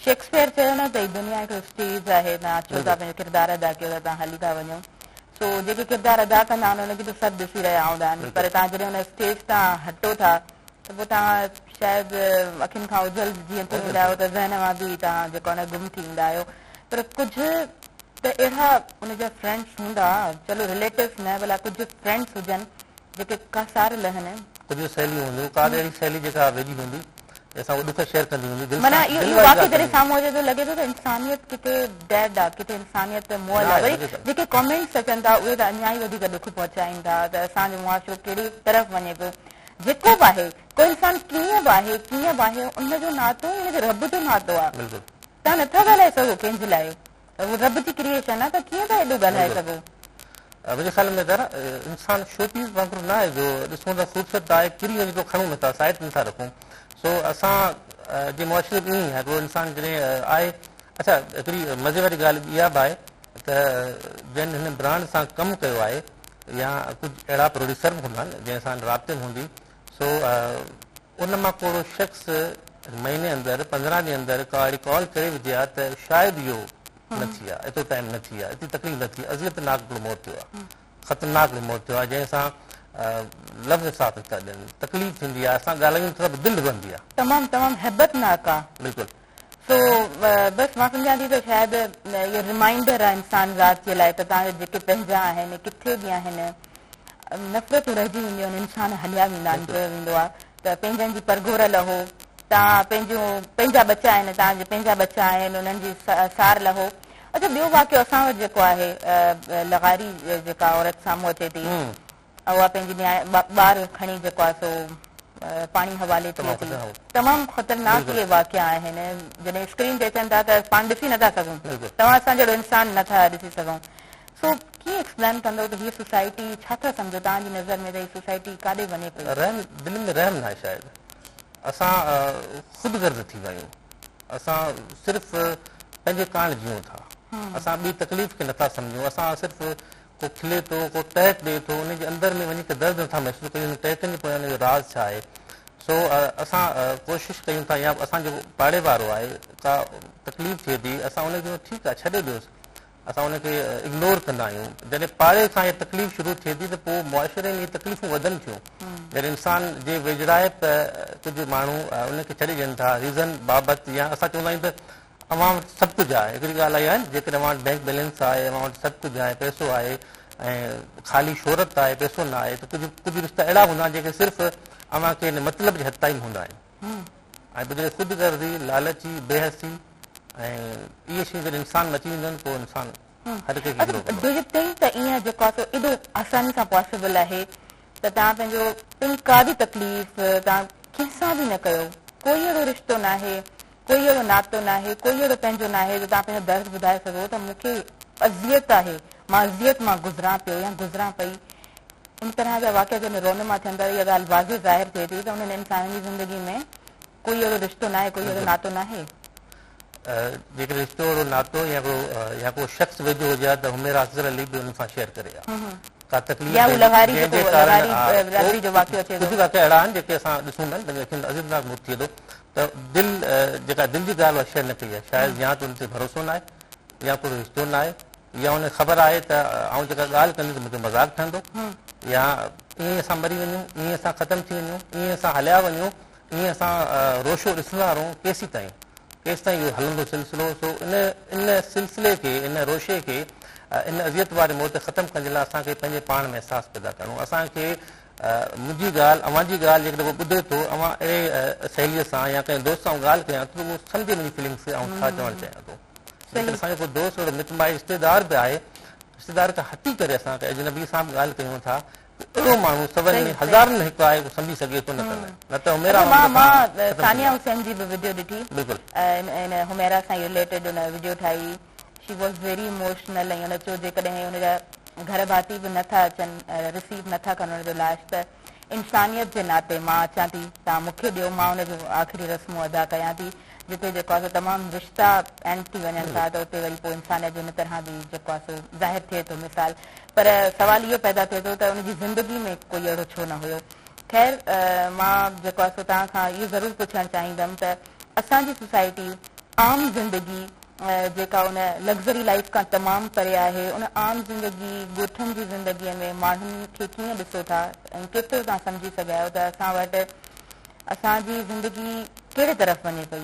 S1: شيڪسپيئر چيو نه ته دنيا هڪ اسٽيج آهي نه اچو ٿا پنهنجو ڪردار ادا ڪيو ته تان هلي ٿا وڃو سو جيڪي ڪردار ادا ڪندا آهن انهن کي ته سڀ ڏسي رهيا هوندا آهن پر تان جڏهن ان اسٽيج تان هٽو ٿا ته پوء توهان شايد اکين کان اوجهل جيئن ٿي ويندا آهيو ته ذهن مان به توهان جيڪو آهي نه گم ٿي ويندا آهيو پر ڪجهه ته اهڙا ان جا فرينڊس هوندا چلو رليٽوس نه ڀلا ڪجهه فرينڊس هجن جيڪي ڪا سار لهن. ڪجهه سهيليون هونديون
S2: ڪا به اهڙي سهيلي جيڪا ويجهي هوندي ۽ اسان کي ڏک شيئر ڪندي هوندي دل سان معنيٰ اهو واقعو جڏهن
S1: سامهون اچي ته لڳي ٿو ته انسانيت ڪٿي ڊيڊ آهي ڪٿي انسانيت ته موئل آهي وري جيڪي ڪامينٽس اچن ٿا اهي ته اڃا ئي وڌيڪ ڏک پهچائين ٿا ته اسان جو معاشرو ڪهڙي طرف وڃي پيو جيڪو به آهي ڪو انسان ڪيئن به آهي ڪيئن به آهي ان جو ناتو ان کي رب جو ناتو آ تهان نٿا ڳالهائي سگهو ڪنهن جي لاء هو رب جي ڪريئشن آ ته ڪيئن ٿا ايڏو ڳالهائي سگهو منهنجي خيال
S2: ۾ ته انسان شو پيس وانگر نه آهي جو ڏسون ته خوبصورت ته آهي ڪري وڃي ٿو کڻون نٿا سائيٽ نٿا رکون سو اسان جي معاشري ۾ ائين آهي ڪو انسان جڏهن آهي اڇا هڪڙي مزي واري ڳالهه اها به آهي ته جن هن برانڊ سان ڪم ڪيو آهي يا ڪجهه اهڙا پروڊيوسر به هوندا جن سان سندن رابطي هوندي سو ان مان ڪو اهڙو شخص مهيني اندر پندرهن ڏينهن اندر ڪا اهڙي ڪال ڪري وجهي ها ته شايد اهو نه ٿئي ها ايترو ٽائيم نه ٿئي ها ايتري تڪليف نه ٿئي ها اذيت ناڪ هڪڙو موت ٿيو آهي خطرناڪ هڪڙو موت ٿيو آهي جنهن سان لفظ ساٿ نه ٿا ڏين تڪليف ٿيندي آهي اسان ڳالهايون ٿا ته دل رئندي آهي تمام تمام هيبت
S1: ناڪ آهي بلڪل سو بس مان سمجهان ٿي ته شايد اهو رمائينڊر آهي انسان ذات جي لاء ته تهان جيڪي پنهنجا آهن ڪٿي به آهن نفرتون رهجي وينديون آهن انسان هليا ويندا آهن چيو ويندو آهي ته پنهنجن جي پرگهور لهو تهان پنهنجون پنهنجا ٻچا آهن تهان جي پنهنجا ٻچا آهن انهن جي سار لهو اچا ٻيو واقعو اسان وٽ جيڪو آهي لغاري جيڪا عورت سامهون اچي ٿي اها پنهنجي نياء ٻار کڻي جيڪو آهي سو پاڻي حوالي ٿئي ٿي. تمام خطرناڪ اهي واقعا آهن جڏهن اسڪرين تي اچن ٿا ته پاڻ ڏسي نٿا سگهون توهان اسان جهڙو انسان نٿا ڏسي سگهون سو ڪيئن ايڪسپلين ڪندو ته هي سوسائٽي ڇا ٿا سمجهو توهان جي نظر ۾ ته هي سوسائٽي ڪاڏي وڃي پئي. رحم دلين ۾ رحم
S2: ناهي شايد اسان خود غرض ٿي ويا آهيون اسان صرف پنهنجي ڪاڻ جيئون ٿا اسان ٻي تڪليف کي نٿا سمجهون اسان صرف ته کلي ٿو، ڪو ٽهڪ ڏئي ٿو، انهيء جي اندر ۾ وڃي ڪري درد نٿا محسوس ڪريون، انهن ٽهڪن جي پويان جو راز ڇا آهي؟ سو اسان ڪوشش ڪيون ٿا يا اسان جيڪو پاڙي وارو آهي ڪا تڪليف ٿئي ٿي اسان ان کي چئون ٿا ٺيڪ آهي ڇڏي ڏيوس اسان ان کي اگنور ڪندا آهيون جڏهن پاڙي کان اها تڪليف شروع ٿئي ٿي ته پوء معاشري ۾ اهي تڪليفون وڌن ٿيون جڏهن انسان جي ويجهڙائپ ڪجهه ماڻهو ان کي ڇڏي ڏين ٿا ريزن بابت يا اسان چوندا آهيون ته اوهان وٽ سڀ ڪجهه آهي، هڪڙي ڳالهه اها آهي نه جيڪڏهن اوهان وٽ بينڪ بيلنس آهي، اوهان وٽ سڀ ڪجهه آهي، پئسو آهي ۽ خالي شهرت آهي، پئسو نه آهي ته ڪجهه ڪجهه رشتا اهڙا هوندا آهن جيڪي صرف اوهان کي هن مطلب جي حد تائين هوندا آهن ۽ پوء جڏهن خود غرضي، لالچي، بي حسي ۽ اهي شيون جڏهن انسان ۾ اچي وينديون آهن پوء انسان هر ڪنهن کي گرو ڪندو آهي. ڊو يو ٿنڪ ته ايئن جيڪو
S1: آهي سو ايڏو آساني سان پاسيبل آهي ته توهان پنهنجو پنهنجي ڪا به تڪليف توهان ڪنهن سان به نه ڪيو ڪوئي اهڙو رشتو ناهي ڪوئي اهڙو ناتو ناهي، ڪوئي اهڙو پنهنجو ناهي جو توهان پنهنجو درد ٻڌائي سگهو ته مون کي اذيت آهي، مان اذيت مان گذران پيو يا گذران پئي. ان طرح جا واقعا جڏهن رونما ٿين ٿا ته اها ڳالهه واضح ظاهر ٿئي ٿي ته انهن انسانن جي زندگي ۾ ڪوئي اهڙو رشتو ناهي، ڪوئي اهڙو ناتو ناهي.
S2: جيڪڏهن رشتو اهڙو ناتو يا ڪو يا ڪو شخص ويجهو هجي ها ته حميرا افضل علي به انهن سان شيئر ڪري ها. ڪا تڪليف يا هو لغاري جنهن جي ڪارڻ ها ڪجهه واقعا اهڙا آهن جيڪي اسان ڏسون ٿا جن جي اکين ۾ عذيتناڪ موت ٿئي ٿو ته دل جيڪا دل جي ڳالهه اها شيئر نه ڪئي آهي شايد يا ته ان تي ڀروسو ناهي يا پورو رشتو ناهي يا ان کي خبر آهي ته آئون جيڪا ڳالهه ڪندس مون تي مذاق ٺهندو يا ائين اسان مري وڃون ائين اسان ختم ٿي وڃون ائين اسان هليا وڃون ائين اسان روشو ڏسندا رهون ڪيسين تائين ڪيس تائين اهو هلندو سلسلو سو ان ان سلسلي کي ان روشي کي ان اذيت واري موت کي ختم ڪرڻ جي لاء اسان کي پنهنجي پاڻ ۾ احساس پيدا ڪرڻو اسان کي منهنجي ڳالهه اوهان جي ڳالهه هڪ دفعو ٻڌي ٿو اوهان اهڙي سهيليء سان يا ڪنهن دوست سان ڳالهه ڪيان ٿو اهو سمجهي منهنجي فيلنگس کي آئون ڇا چوڻ چاهيان ٿو ليڪن اسان جو ڪو دوست اهڙو مٽ مائي رشتيدار به آهي رشتيدار کان هٽي ڪري اسان ڪنهن اجنبي سان به ڳالهه ڪيون ٿا اهڙو ماڻهو سون ۾ هزارن ۾ هڪ آهي اهو سمجهي سگهي ٿو نه ڪنهن نه ته هميرا وانگر مان ثانيه
S1: حسين جي به وڊيو ڏٺي بلڪل ان هميرا سان رليٽيڊ ان وڊيو ٺاهي شي واز ويري اموشنل ۽ ان چيو جيڪڏهن ان جا گهر ڀاتي به نه ٿا اچن رسيو نه ٿا ڪن ان جو لاش ته انسانيت جي ناتي مان اچان ٿي توهان مون کي ڏيو مان ان جون آخري رسمون ادا ڪيان ٿي جتي جيڪو آهي سو تمام رشتا اينڊ ٿي وڃن ٿا ته اتي وري پوء انسانيت جو ان طرح به جيڪو آهي سو ظاهر ٿئي ٿو مثال پر سوال اهو پيدا ٿئي ٿو ته ان جي زندگي ۾ ڪوئي اهڙو ڇو نه هيو خير مان جيڪو آهي سو توهان کان اهو ضرور پڇڻ چاهيندم ته اسان جي سوسائٽي عام زندگي جيڪا ان لگزري لائيف کان تمام پري آهي، ان عام زندگي، ڳوٺن جي زندگيء ۾ ماڻهن کي ڪيئن ڏسو ٿا ۽ ڪيترو توهان سمجهي سگهيا آهيو ته اسان وٽ اسان جي زندگي ڪهڙي طرف وڃي پئي؟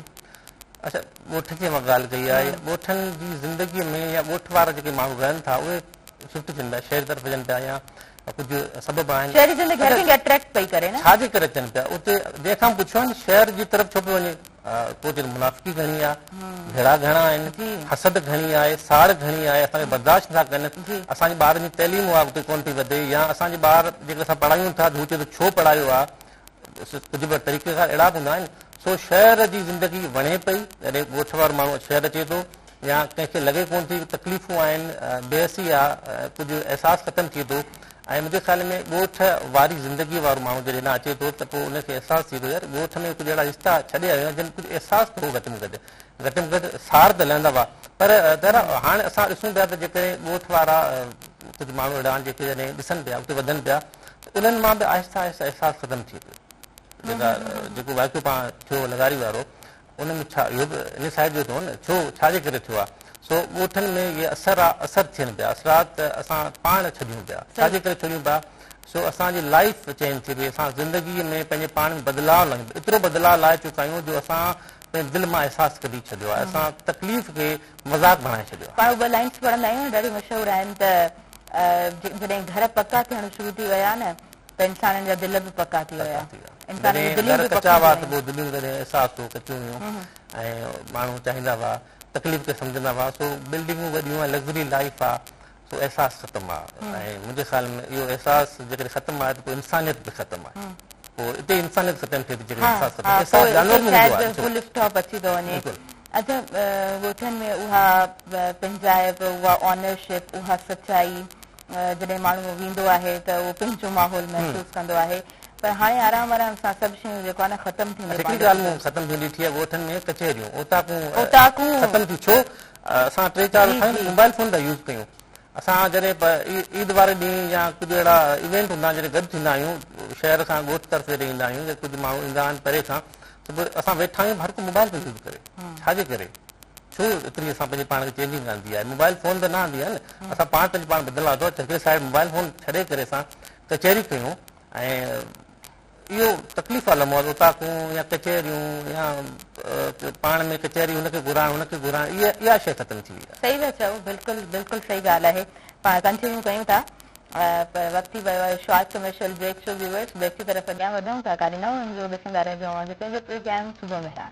S1: اچا
S2: ڳوٺ جي اوهان ڳالهه ڪئي آهي، ڳوٺن جي زندگيء ۾ يا ڳوٺ وارا جيڪي ماڻهو رهن ٿا اهي شفٽ ٿين پيا، شهر طرف وڃن پيا يا ڪجهه سبب آهن. شهري زندگي هر ڪنهن کي اٽريڪٽ پئي ڪري نه؟ ڇا جي ڪري ٿين پيا؟ اتي جنهن کان به پڇيو آهي نه شهر جي طرف ڇو پيو وڃي؟ توجي منافقي گهڻي آ، جهيڙا گهڻا آهن، حسد گهڻي آهي، ساڙ گهڻي آهي، اسان کي برداشت نٿا ڪن، اسان جي ٻارن جي تعليم اڳتي ڪونه ٿي وڌي يا اسان جي ٻار جيڪڏهن اسان پڙهايون ٿا ته هو چئي ٿو ڇو پڙهايو آ، ڪجهه ٻيا طريقه ڪار اهڙا به هوندا آهن، سو شهر جي زندگي وڻي پئي، جڏهن ڳوٺ وارو ماڻهو شهر اچي ٿو يا ڪنهن کي لڳي ڪونه ٿي تڪليفون آهن، بي حسي آ، ڪجهه احساس ختم ٿئي ٿو، ۽ مجھي خيال ۾ ڳوٺ واري زندگي وارو ماڻھو جڏھن ھيڏانھن اچي ٿو ته پوء ان کي احساس ٿئي ٿو يار ڳوٺ ۾ ڪجھه اھڙا رشتا ڇڏي آيو آھيان جن ڪجھه احساس ته ھو گھٽ ۾ گھٽ گھٽ ۾ گھٽ سار ته لھندا ھئا پر طاھرا ھاڻ اسان ڏسون پيا ته جيڪڏھن ڳوٺ وارا ڪجھه ماڻھو اھڙا آھن جيڪي جڏھن ڏسن پيا اڳتي وڌن پيا ته انھن مان به آھستي آھستي احساس ختم ٿئي پيو جيڪا جيڪو واقعو پاڻ ٿيو لغاري وارو ان ۾ ڇا اهو به ان صاحب جو ٿيو نه ڇو ڇا جي ڪري ٿيو آ سو ڳوٺن ۾ اهي اثر آ اثر ٿين پيا اثرات اسان پاڻ ڇڏيون پيا ڇا جي ڪري ڇڏيون پيا سو اسان جي لائيف چينج ٿي وئي اسان زندگي ۾ پنهنجي پاڻ ۾ بدلاء لايون ايترو بدلاء لائي چڪا آهيون جو اسان پنهنجي دل مان احساس ڪڍي ڇڏيو آ اسان تڪليف کي مذاق بڻائي ڇڏيو آ. پاڻ اهي لائنس پڙهندا
S1: آهيون ڏاڍيون مشهور آهن ته جڏهن گهر پڪا ٿيڻ شروع ٿي ويا نه ته انسانن جا دل به پڪا ٿي ويا. انسانن جون دليون به پڪيون ٿي ويون. دليون
S2: جڏهن احساس تون ڪچيون هيون ۽ ماڻهو چاهيندا هئا، تڪليف کي سمجهندا هئا، سو بلڊنگون وڏيون ۽ لگزري لائيف آ، سو احساس ختم آ ۽ منهنجي خيال ۾ اهو احساس جيڪڏهن ختم آهي ته پوء انسانيت به ختم آهي. پوء اتي ئي انسانيت ختم ٿئي ٿي جيڪڏهن احساس ختم ٿئي. احساس جانور ۾ هوندو آهي. فل اسٽاپ اچي ٿو وڃي.
S1: اچا ڳوٺن ۾ اها پنهنجائپ، اها آنرشپ، اها سچائي جڏهن ماڻهو ويندو آهي ته اهو پنهنجو ماحول محسوس ڪندو آهي پر هاڻي آرام آرام سان سڀ شيون جيڪو آهي نه ختم ٿينديون پاڻ هڪڙي ڳالهه مون ختم ٿيندي
S2: ڏٺي آهي ڳوٺن ۾ ڪچهريون اوطاقون اوطاقون ختم ٿيون ڇو اسان ٽي چار جي جي موبائل فون ٿا يوز ڪيون اسان جڏهن عيد واري ڏينهن يا ڪجهه اهڙا ايونٽ هوندا آهن جڏهن گڏ ٿيندا آهيون شهر سان ڳوٺ طرف جڏهن ايندا آهيون يا ڪجهه ماڻهو ايندا آهن پري کان ته پوء اسان ويٺا آهيون هر ڪو موبائل پيو يوز ڪري ڇا جي ڪري ڇو اتري اسان پنهنجي پاڻ کي چينجنگ ڪانه ٿي آهي موبائل فون ته نه آندي آهي نه اسان پاڻ پنهنجي پاڻ بدلڻ لاء ٿو اچون ڪي صاحب موبائل فون ڇڏي ڪري اسان ڪچهري ڪيون ۽ اهو تڪليف وارو لمحو آهي اوطاقون يا ڪچهريون يا پاڻ ۾ ڪچهري هن کي گهرائڻ هن کي گهرائڻ اها اها شيء ختم ٿي وئي آهي صحيح ٿا چئو بلڪل
S1: بلڪل صحيح ڳالهه آهي پاڻ ڪنٽينيو ڪيون ٿا پر وقت ٿي ويو آهي شارٽ ڪمرشل بريڪ جو ويورس بريڪ جي طرف اڳيان وڌون ٿا ڪاري نئون ايپيسوڊ ڏسندا رهجو اوهان جو پنهنجو پروگرام صبح مهراڻ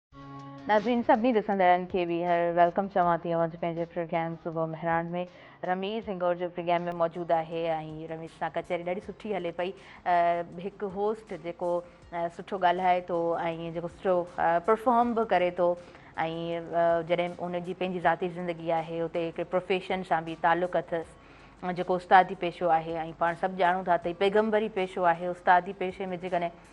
S1: ناظرين سڀني ڏسندڙن کي ٻيهر ويلڪم چوان ٿي اوهان جي پنهنجي پروگرام صبح مهراڻ ۾ رميز هنگور جو پروگرام ۾ موجود آهي ۽ رميز سان ڪچهري ڏاڍي سٺي هلي پئي هڪ هوسٽ جيڪو سٺو ڳالهائي ٿو ۽ جيڪو سٺو پرفارم به ڪري ٿو ۽ جڏهن ان جي پنهنجي ذاتي زندگي آهي اتي هڪڙي پروفيشن سان به تعلق اٿس جيڪو استادي پيشو آهي ۽ پاڻ سڀ ڄاڻون ٿا ته پيغمبري پيشو آهي استادي پيشي ۾ جيڪڏهن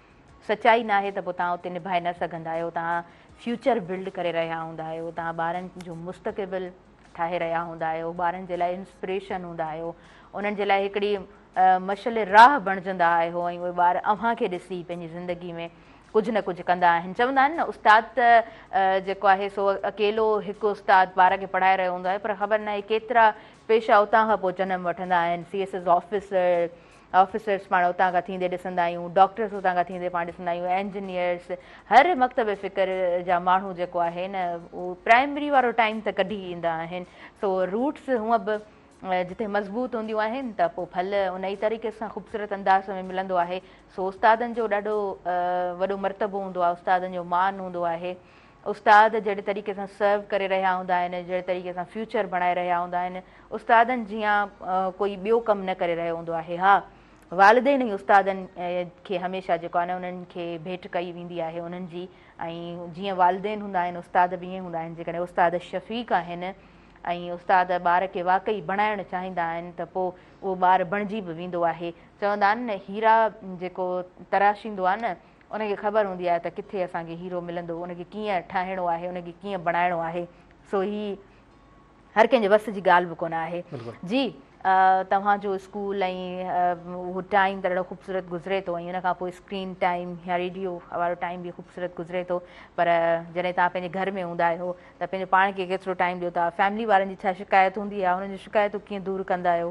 S1: سچائي ناهي ته پوء توهان اتي نڀائي نه سگهندا آهيو، توهان فيوچر بلڊ ڪري رهيا هوندا آهيو، توهان ٻارن جو مستقبل ٺاهي رهيا هوندا آهيو، ٻارن جي لاء انسپريشن هوندا آهيو، انهن جي لاء هڪڙي مشعل راهه بڻجندا آهيو ۽ اهي ٻار اوهان کي ڏسي پنهنجي زندگي ۾ ڪجهه نه ڪجهه ڪندا آهن، چوندا آهن نه استاد ته جيڪو آهي سو اڪيلو هڪ استاد ٻار کي پڙهائي رهيو هوندو آهي پر خبر ناهي ڪيترا پيشا اتان کان پوء جنم وٺندا آهن C S S officer officers پاڻ اتان کان ٿيندي ڏسندا آهيون، ڊاڪٽرس اتان کان ٿيندي پاڻ ڏسندا آهيون، انجنيئرس، هر مڪتب فڪر جا ماڻهو جيڪو آهي نه اهو پرائمري وارو ٽائيم ته ڪڍي ايندا آهن، سو روٽس هونء به جتي مضبوط هونديون آهن ته پوء ڦل ان ئي طريقي سان خوبصورت انداز ۾ ملندو آهي، سو استادن جو ڏاڍو وڏو مرتبو هوندو آهي، استادن جو مان هوندو آهي. استاد جهڙي طريقي سان سرو ڪري رهيا هوندا آهن، جهڙي طريقي سان فيوچر بڻائي رهيا هوندا آهن، استادن جيان ڪوئي ٻيو ڪم نه ڪري رهيو هوندو آهي. ها! والدين ئي استادن کي هميشه جيڪو آهي نه انهن کي ڀيٽ ڪئي ويندي آهي انهن جي ۽ جيئن والدين هوندا آهن استاد به ائين هوندا آهن جيڪڏهن استاد شفيق آهن ۽ استاد ٻار کي واقعي بڻائڻ چاهيندا آهن ته پوء اهو ٻار بڻجي به ويندو آهي. چوندا آهن نه هيرا جيڪو تراشيندو آهي نه. ان کي خبر هوندي آهي ته ڪٿي اسان کي هيرو ملندو، ان کي ڪيئن ٺاهڻو آهي، ان کي ڪيئن بڻائڻو آهي، سو هي هر ڪنهن جي وس جي ڳالهه به ڪونه آهي. جي توهان جو اسڪول ۽ اهو ٽائيم ته ڏاڍو خوبصورت گذري ٿو ۽ ان کان پوء اسڪرين ٽائيم يا ريڊيو وارو ٽائيم به خوبصورت گذري ٿو پر جڏهن توهان پنهنجي گهر ۾ هوندا آهيو ته پنهنجو پاڻ کي ڪيترو ٽائيم ڏيو ٿا، فيملي وارن جي ڇا شڪايت هوندي آهي، انهن جون شڪايتون ڪيئن دور ڪندا آهيو؟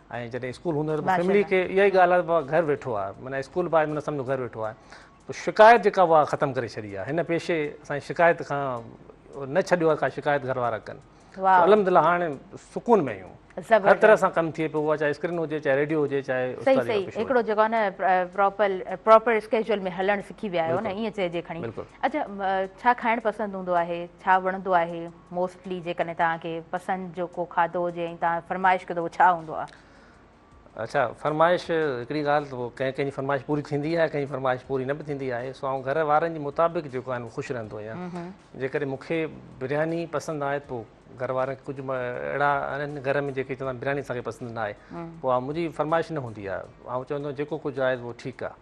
S2: ۽ جڏهن اسڪول هوندو آهي ته فيملي کي اها ئي ڳالهه آهي گهر ويٺو آهي معنيٰ اسڪول به آهي معنيٰ سمجهو گهر ويٺو آهي پوء شڪايت جيڪا اها ختم ڪري ڇڏي آهي هن پيشي اسانجي شڪايت کان نه ڇڏيو آهي ڪا شڪايت گهر وارا ڪن الحمد لله هاڻي سڪون ۾ آهيون هر طرح سان ڪم ٿئي پيو اها چاهي اسڪرين هجي چاهي ريڊيو هجي چاهي صحيح صحيح هڪڙو جيڪو
S1: آهي نه پراپر پراپر اسڪيجول ۾ هلڻ سکي ويا آهيو نه ائين چئجي کڻي اڇا ڇا کائڻ پسند هوندو آهي ڇا وڻندو آهي موسٽلي جيڪڏهن توهان کي پسند جو ڪو کاڌو هجي ۽ توهان فرمائش ڪيو ته اهو ڇا هوندو آهي؟ اچا
S2: فرمائش هڪڙي ڳالهه ته پوء ڪنهن ڪنهن جي فرمائش پوري ٿيندي آهي ڪنهن جي فرمائش پوري نه به ٿيندي آهي سو آئون گهر وارن جي مطابق جيڪو آهي خوش رهندو آهيان جيڪڏهن مون کي برياني پسند آهي پوء گهر وارن کي ڪجهه اهڙا آهن گهر ۾ جيڪي چوندا برياني اسان کي پسند نه آهي پوء منهنجي فرمائش نه هوندي آهي آئون چوندو آهيان جيڪو ڪجهه آهي اهو ٺيڪ آهي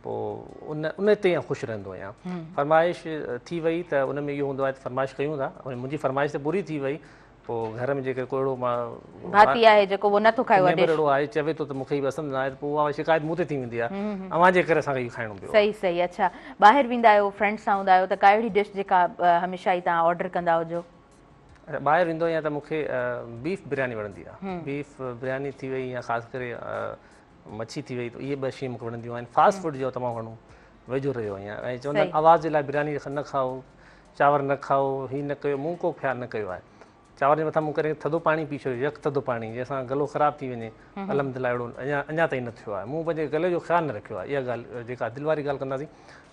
S2: پوء ان ان تي آئون خوش رهندو آهيان فرمائش ٿي وئي ته ان ۾ اهو هوندو آهي ته فرمائش ڪيون ٿا ۽ منهنجي فرمائش ته پوري ٿي وئي پوء گهر ۾ جيڪر ڪو اهڙو ڀاتي آهي
S1: جيڪو اهو نه ٿو کائي نيبر اهڙو آهي چوي ٿو ته
S2: مون کي هي پسند نه آهي ته پوء اها شڪايت مون تي ٿي ويندي آهي اوهان جي ڪري اسان کي اهو کائڻو پيو صحيح صحيح اڇا
S1: ٻاهر ويندا آهيو فرينڊس سان هوندا آهيو ته ڪا اهڙي ڊش جيڪا هميشه ئي توهان آرڊر ڪندا هجو ٻاهر
S2: ويندو آهيان ته مون کي بيف برياني وڻندي آهي بيف برياني ٿي وئي يا خاص ڪري مڇي ٿي وئي اهي ٻه شيون مونکي وڻنديون آهن فاسٽ فوڊ جو تمام گهڻو ويجهو رهيو آهيان ۽ چوندا آهن آواز جي لاء برياني نه کائو چانور نه کائو هي نه ڪيو مون ڪو خيال نه ڪيو آهي چانور جي مٿان مون ڪڏهن ٿڌو پاڻي پي ڇڏيو يڪ ٿڌو پاڻي جنهن سان گلو خراب ٿي وڃي الحمد لله اهڙو اڃا اڃا تائين نه ٿيو آهي مون پنهنجي گلي جو خيال نه رکيو آهي اها ڳالهه جيڪا دل واري ڳالهه ڪنداسين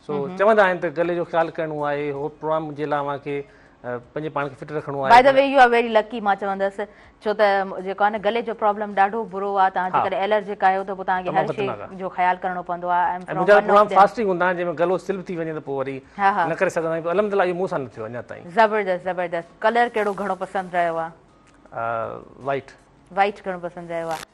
S2: سو چوندا آهن ته گلي جو خيال ڪرڻو آهي هوء پروگرام جي لاء اوهان کي پنهنجي پاڻ کي فٽ رکڻو آهي by the way you are very
S1: lucky مان چوندس ڇو ته جيڪو آهي نه گلي جو پرابلم ڏاڍو برو آهي توهان جيڪڏهن الرجڪ آهيو ته پوء توهان کي هر شي جو خيال ڪرڻو پوندو آهي ۽ منهنجا پروگرام فاسٽنگ
S2: هوندا آهن جنهن ۾ گلو سل به ٿي وڃي ته پوء وري نه ڪري سگهندا آهيون الحمد لله اهو مون سان نه ٿيو اڃا تائين زبردست زبردست
S1: ڪلر ڪهڙو گهڻو پسند رهيو آهي
S2: وائٽ وائٽ
S1: گهڻو پسند رهيو آهي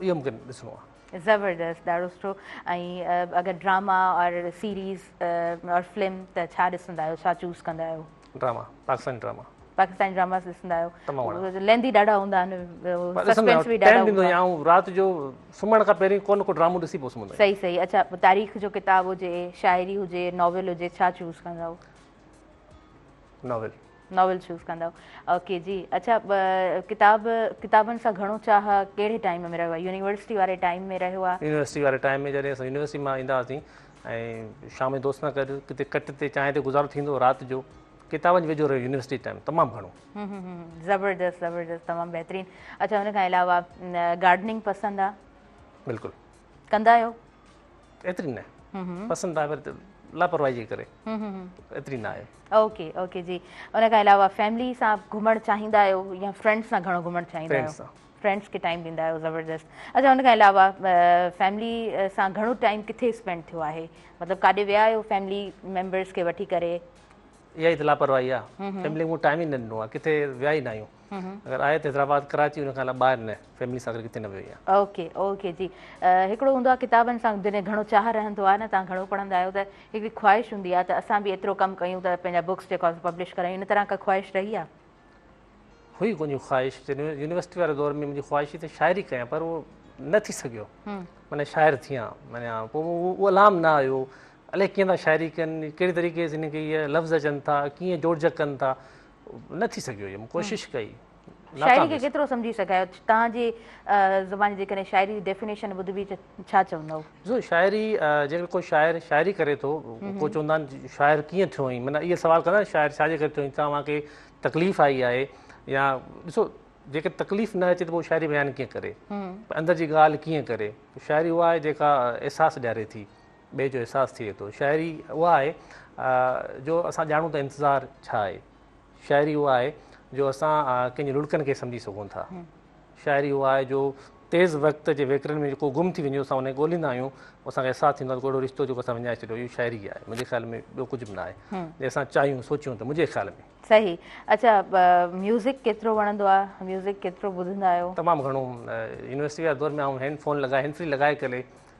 S2: اهو مون کي ڏسڻو آهي. زبردست ڏاڍو سٺو
S1: ۽ اگر ڊراما اور سيريز اور فلم ته ڇا ڏسندا آهيو ڇا چوز ڪندا آهيو. Drama Pakistani
S2: drama. Pakistani dramas
S1: ڏسندا آهيو. تمام گهڻا. ليندي ڏاڍا
S2: هوندا آهن
S1: سسپينس به ڏاڍا هوندا آهن. رات جو
S2: سمهڻ کان پهرين ڪو نه ڪو ڊرامو ڏسي پوء سمهندو آهيان. صحيح صحيح اڇا تاريخ
S1: جو ڪتاب هجي شاعري هجي ناول هجي ڇا چوز ڪندا آهيو.
S2: ناول. ناول
S1: چوز ڪندؤ اوڪي جي اچھا ڪتاب ڪتابن سان گھڻو چاهه ڪهڙي ٽائيم ۾ رهيو آهي يونيورسٽي واري ٽائيم ۾ رهيو آهي يونيورسٽي واري ٽائيم ۾ جڏهن
S2: اسان يونيورسٽي مان ايندا هئاسين ۽ شام جو دوستن سان گڏ ڪٿي ڪٽ تي چانهه تي گذارو ٿيندو رات جو ڪتابن جو ويجهو رهيو يونيورسٽي ٽائيم تمام گھڻو زبردست
S1: زبردست تمام بهترين اچھا ان کان علاوه گارڊننگ پسند آ بلڪل
S2: ڪندا آهيو؟
S1: ايتري نه
S2: پسند آهي پر لاپرواهي جي ڪري ايتري نه آهي اوڪي اوڪي جي
S1: ان کان علاوه فيملي سان گهمڻ چاهيندا آهيو يا فرينڊس سان گهڻو گهمڻ چاهيندا آهيو فرينڊس کي ٽائيم ڏيندا آهيو زبردست اچھا ان کان علاوه فيملي سان گهڻو ٽائيم ڪٿي اسپينڊ ٿيو آهي مطلب ڪاڏي ويا آهيو فيملي ميمبرس کي وٺي ڪري اها ئي ته
S2: لاپرواهي آهي فيملي مون ٽائيم ئي نه ڏنو آهي ڪٿي ويا ئي نه آهيون اگر آهي ته حيدرآباد ڪراچي ان کان علاوه ٻاهر نه فيملي سان گڏ ڪٿي نه ويو آهيان. اوڪي اوڪي جي
S1: هڪڙو هوندو آهي ڪتابن سان جڏهن گهڻو چاهه رهندو آهي نه تان گهڻو پڙهندا آهيو ته هڪڙي خواهش هوندي آهي ته اسان به ايترو ڪم ڪيون ته پنهنجا بڪس جيڪا پبلش ڪرايون ان طرح ڪا خواهش رهي آهي.
S2: هئي ڪنهن خواهش يونيورسٽي واري دور ۾ منهنجي خواهش ته شاعري ڪيان پر اهو نه ٿي سگهيو معنيٰ شاعر ٿيان معنيٰ پوء اهو الهام نه آيو الائي ڪيئن ٿا شاعري ڪن ڪهڙي طريقي سان هن کي لفظ اچن ٿا ڪيئن جوڙجڪ ڪن ٿا نه ٿي سگهيو هيم ڪوشش ڪئي شاعري کي ڪيترو
S1: سمجهي سگهايو توهان جي زبان جيڪڏهن شاعري جي ڊيفينيشن ٻڌبي ته ڇا چوندؤ جو شاعري
S2: جيڪڏهن ڪو شاعر شاعري ڪري ٿو ڪو چوندا آهن شاعر ڪيئن ٿيو آهين معنيٰ اهي سوال ڪندا شاعر ڇا جي ڪري ٿيو آهين توهان کي تڪليف آئي آهي يا ڏسو جيڪي تڪليف نه اچي ته پوء شاعري بيان ڪيئن ڪري اندر جي ڳالهه ڪيئن ڪري شاعري اها آهي جيڪا احساس ڏياري ٿي ٻئي جو احساس ٿئي ٿو. شاعري اها آهي جو اسان ڄاڻون ته انتظار ڇا آهي. شاعري اها آهي جو اسان ڪنهن جي لڙڪن کي سمجهي سگهون ٿا. شاعري اها آهي جو تيز وقت جي ويڪرن ۾ جيڪو گم ٿي وڃي اسان ان کي ڳولهيندا آهيون اسان کي احساس ٿيندو آهي ته ڪو اهڙو رشتو جيڪو اسان وڃائي ڇڏيو اهو شاعري آهي منهنجي خيال ۾ ٻيو ڪجهه به ناهي جي اسان چاهيون سوچيون ته منهنجي خيال ۾ صحيح اچا
S1: ميوزڪ ڪيترو وڻندو آهي ميوزڪ ڪيترو ٻڌندا آهيو تمام گهڻو
S2: يونيورسٽي واري دور ۾ آئون هينڊ فون لڳائي هينڊ فري لڳائي ڪري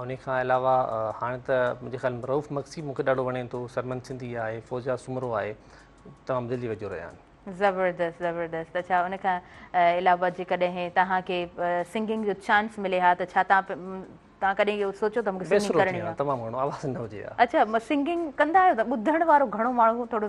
S2: ان کان علاوه هاڻي ته منهنجي خيال ۾ رئوف مگسي مون کي ڏاڍو وڻي ٿو، سرمن سنڌي آهي، فوزيا سومرو آهي، تمام دل جي ويجهو رهيا آهن. زبردست
S1: زبردست اڇا ان کان علاوه جيڪڏهن توهان کي سنگنگ جو چانس ملي ها ته ڇا توهان ڪڏهن اهو سوچيو ته مون کي سنگنگ ڪرڻي آهي؟
S2: اڇا سنگنگ
S1: ڪندا آهيو ته ٻڌڻ وارو گهڻو ماڻهو ٿورو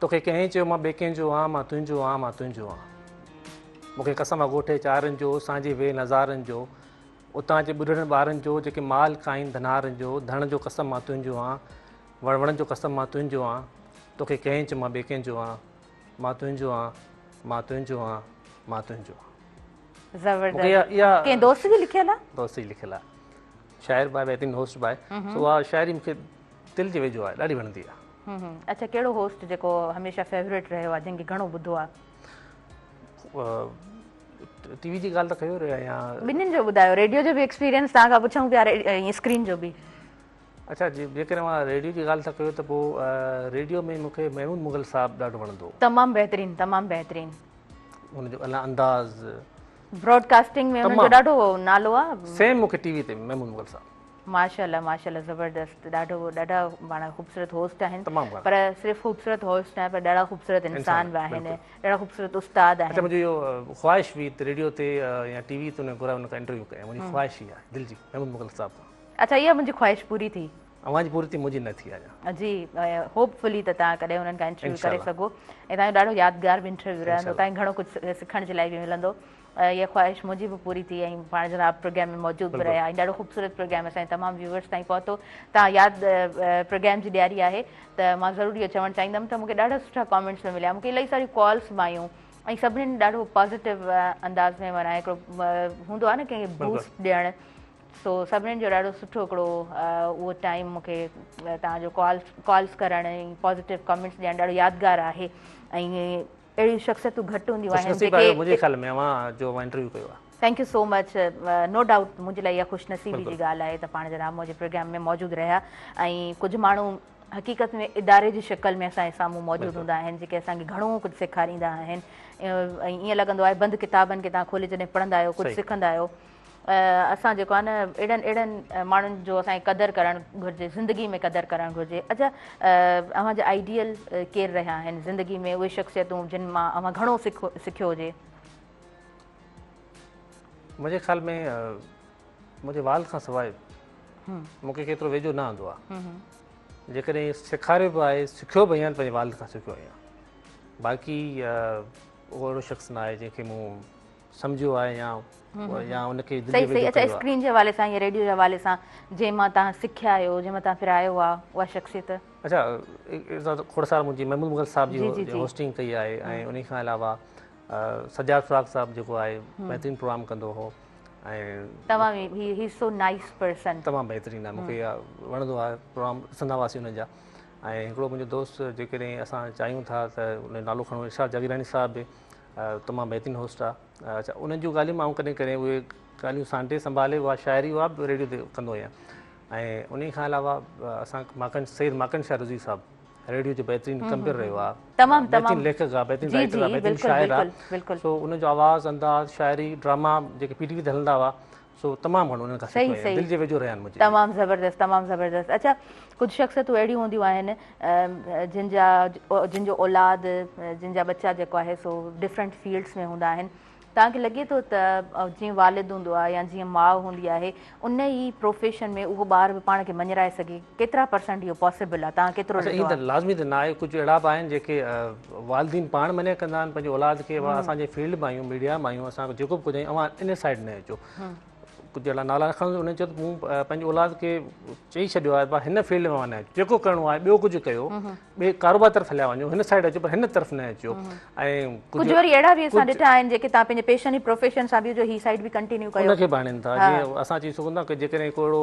S2: توکي ڪنهن چيو مان ٻئي ڪنهن جو آن مان تنهنجو آن مان تنهنجو آن مون کي قسم آ ڳوٺي چارن جو اسان جي وي نظارن جو اتان جي ٻڍڙن ٻارن جو جيڪي مال کائين ڌنارن جو ڌڻ جو قسم مان تنهنجو آن وڻ وڻن جو قسم مان تنهنجو آن توکي ڪنهن چيو مان ٻئي ڪنهن جو آن مان تنهنجو آن مان تنهنجو آن مان تنهنجو آن زبردست
S1: ڪنهن دوست جي لکيل آ دوست جي لکيل آ
S2: شاعر باء بهترين هوسٽ باء سو آ شاعري مون کي دل جي ويجهو آ ڏاڍي وڻندي آ اچا ڪهڙو هوسٽ
S1: جيڪو هميشه فيوريٽ رهيو آهي جنهن کي گهڻو ٻڌو آهي
S2: ٽي وي جي ڳالهه ته ڪيو رهيا يا ٻنهين جو ٻڌايو ريڊيو
S1: جو به ايڪسپيرينس تان کان پڇون پيا ۽ اسڪرين جو به اچا جي
S2: جيڪڏهن مان ريڊيو جي ڳالهه ته ڪيو ته پو ريڊيو ۾ مون کي محمود مغل صاحب ڏاڍو وڻندو تمام بهترين تمام
S1: بهترين ان جو
S2: الا انداز براڊڪاسٽنگ
S1: ۾ ان جو ڏاڍو نالو آ سيم مون کي ٽي وي تي
S2: محمود مغل صاحب ماشاءالله ماشاءالله
S1: زبردست ڏاڍو ڏاڍا پاڻ خوبصورت هوسٽ آهن تمام گهڻا پر صرف
S2: خوبصورت
S1: هوسٽ ناهي پر ڏاڍا خوبصورت انسان انسان به آهن بلڪل ڏاڍا خوبصورت استاد اچا آهن منهنجي اهو
S2: خواهش هئي ته ريڊيو تي يا ٽي وي تي انهن گهرايو انهن کان انٽرويو ڪيان منهنجي خواهش هي آهي دل جي محمود مغل صاحب کان اچا اها منهنجي خواهش
S1: پوري ٿي اوهان جي پوري ٿي منهنجي
S2: نه ٿي اڃا جي هوپ
S1: فلي ته تان ڪڏهن انهن کان انٽرويو انشاء ڪري الله سگهو ۽ تان جو ڏاڍو يادگار به انٽرويو رهندو انشاء الله تان کي گهڻو ڪجهه سکڻ جي لاء به ملندو اها خواهش منهنجي به پوري ٿي ۽ پاڻ جناب پروگرام ۾ موجود به رهيا ۽ ڏاڍو خوبصورت پروگرام اسان جي تمام ويوورس تائين پهتو تان ياد پروگرام جي ڏياري آهي ته مان ضرور اهو چوڻ چاهيندم ته مون کي ڏاڍا سٺا ڪامينٽس به مليا مون کي الائي ساريون ڪالس به آيون ۽ سڀني ڏاڍو پازيٽو انداز ۾ مانا هڪڙو هوندو آهي نه ڪنهن کي بوسٽ ڏيڻ سو سڀني جو ڏاڍو سٺو هڪڙو اهو ٽائيم مون کي تان جو ڪالس ڪالس ڪرڻ ۽ پازيٽو ڪامينٽس ڏيڻ ڏاڍو يادگار آهي ۽ اهڙيون شخصيتون گهٽ هونديون آهن خوش نصيب آهيو منهنجي خيال ۾ اوهان
S2: جو اوهان انٽرويو ڪيو آهي. Thank you so much
S1: no doubt منهنجي لاء اها خوش نصيبي جي ڳالهه آهي ته پاڻ جن رامو جي پروگرام ۾ موجود رهيا ۽ ڪجهه ماڻهو حقيقت ۾ اداري جي شڪل ۾ اسان جي سامهون موجود هوندا آهن جيڪي اسان کي گهڻو ڪجهه سيکاريندا آهن ۽ ائين لڳندو آهي بند ڪتابن کي تان کولي جڏهن پڙهندا آهيو ڪجهه سکندا آهيو اسان جيڪو آهي نه اهڙن اهڙن ماڻهن جو اسان کي قدر ڪرڻ گهرجي زندگي ۾ قدر ڪرڻ گهرجي اچا اوهان جا آئيڊيل ڪير رهيا آهن زندگي ۾ اهي شخصيتون جن مان اوهان گهڻو سکو سکيو هجي
S2: منهنجي خيال ۾ منهنجي والد کان سواء مون کي ڪيترو ويجهو نه آندو آهي جيڪڏهن سيکاريو به آهي سکيو به آهيان پنهنجي والد کان سکيو آهيان باقي اهو اهڙو شخص نه آهي جنهن کي مون سمجهيو آهي يا يا ان کي دل ويجهو ڪيو آهي.
S1: اسڪرين جي حوالي سان يا ريڊيو جي حوالي سان جنهن مان توهان سکيا آهيو جنهن مان توهان پرايو آهي اها شخصيت. اچا کوڙ
S2: سال منهنجي محمود مغل صاحب جي هوسٽنگ ڪئي آهي ۽ انهي کان علاوه سجاد فراق صاحب جيڪو آهي بهترين پروگرام ڪندو هو توهان هي هي سو نائس پرسن تمام بهترين آهي مون کي وڻندو آهي پروگرام ڏسندا هئاسي ان جا ۽ هڪڙو منهنجو دوست جيڪڏهن اسان چاهيون ٿا ته ان جو نالو کڻو ارشاد جاگيراڻي صاحب به تمام بهترين هوسٽ آ. اچا انهن جون ڳالهيون مان ڪڏهن ڪڏهن اهي ڳالهيون سانٽي سنڀالي اها شاعري اها به ريڊيو تي ڪندو آهيان ۽ انهي کان علاوه اسان ماڪن سيد ماڪن شاهه رضوي صاحب ريڊيو جو بهترين ڪمپيئر رهيو آ تمام بهترين ليکڪ آ بهترين رائٽر آ بهترين شاعر آ سو ان جو آواز انداز شاعري ڊراما جيڪي پي ٽي وي تي هلندا هئا سو تمام گهڻو انهن کان سکيو آهيان. صحيح دل جي ويجهو رهيا آهن منهنجي. تمام زبردست تمام زبردست
S1: اڇا ڪجھ شخصيتون اهڙيون هونديون آهن جن جا جن جو اولاد جن جا ٻچا جيڪو آهي سو ڊفرنٽ فيلڊس ۾ هوندا آهن توهان کي لڳي ٿو ته جيئن والد هوندو آهي يا جيئن ماء هوندي آهي ان ئي پروفيشن ۾ اهو ٻار به پاڻ کي مڃرائي سگهي ڪيترا پرسنٽ اهو پاسيبل آهي توهان ڪيترو اچا ايئن ته لازمي ته ناهي
S2: ڪجهه اهڙا به آهن جيڪي والدين پاڻ منع ڪندا آهن پنهنجي اولاد کي وا اسان جي فيلڊ مان آهيون ميڊيا مان آهيون اسان جيڪو به ڪجهه اوهان ان سائيڊ نه اچو ڪجهه اهڙا نالا رکن انهن چيو ته مون پنهنجي اولاد کي چئي ڇڏيو آهي وا هن فيلڊ مان نه اچو جيڪو ڪرڻو آهي ٻيو ڪجهه ڪيو ٻئي ڪاروبار طرف هليا وڃو هن سائيڊ اچو پر هن طرف نه اچو ۽ ڪجهه وري اهڙا به اسان ڏٺا آهن جيڪي تان پنهنجي پيشن ۽ پروفيشن سان به جو هي سائيڊ به ڪنٽينيو ڪيو ان کي به آڻين ٿا جيئن اسان چئي سگهون ٿا ڪه جيڪڏهن ڪو اهڙو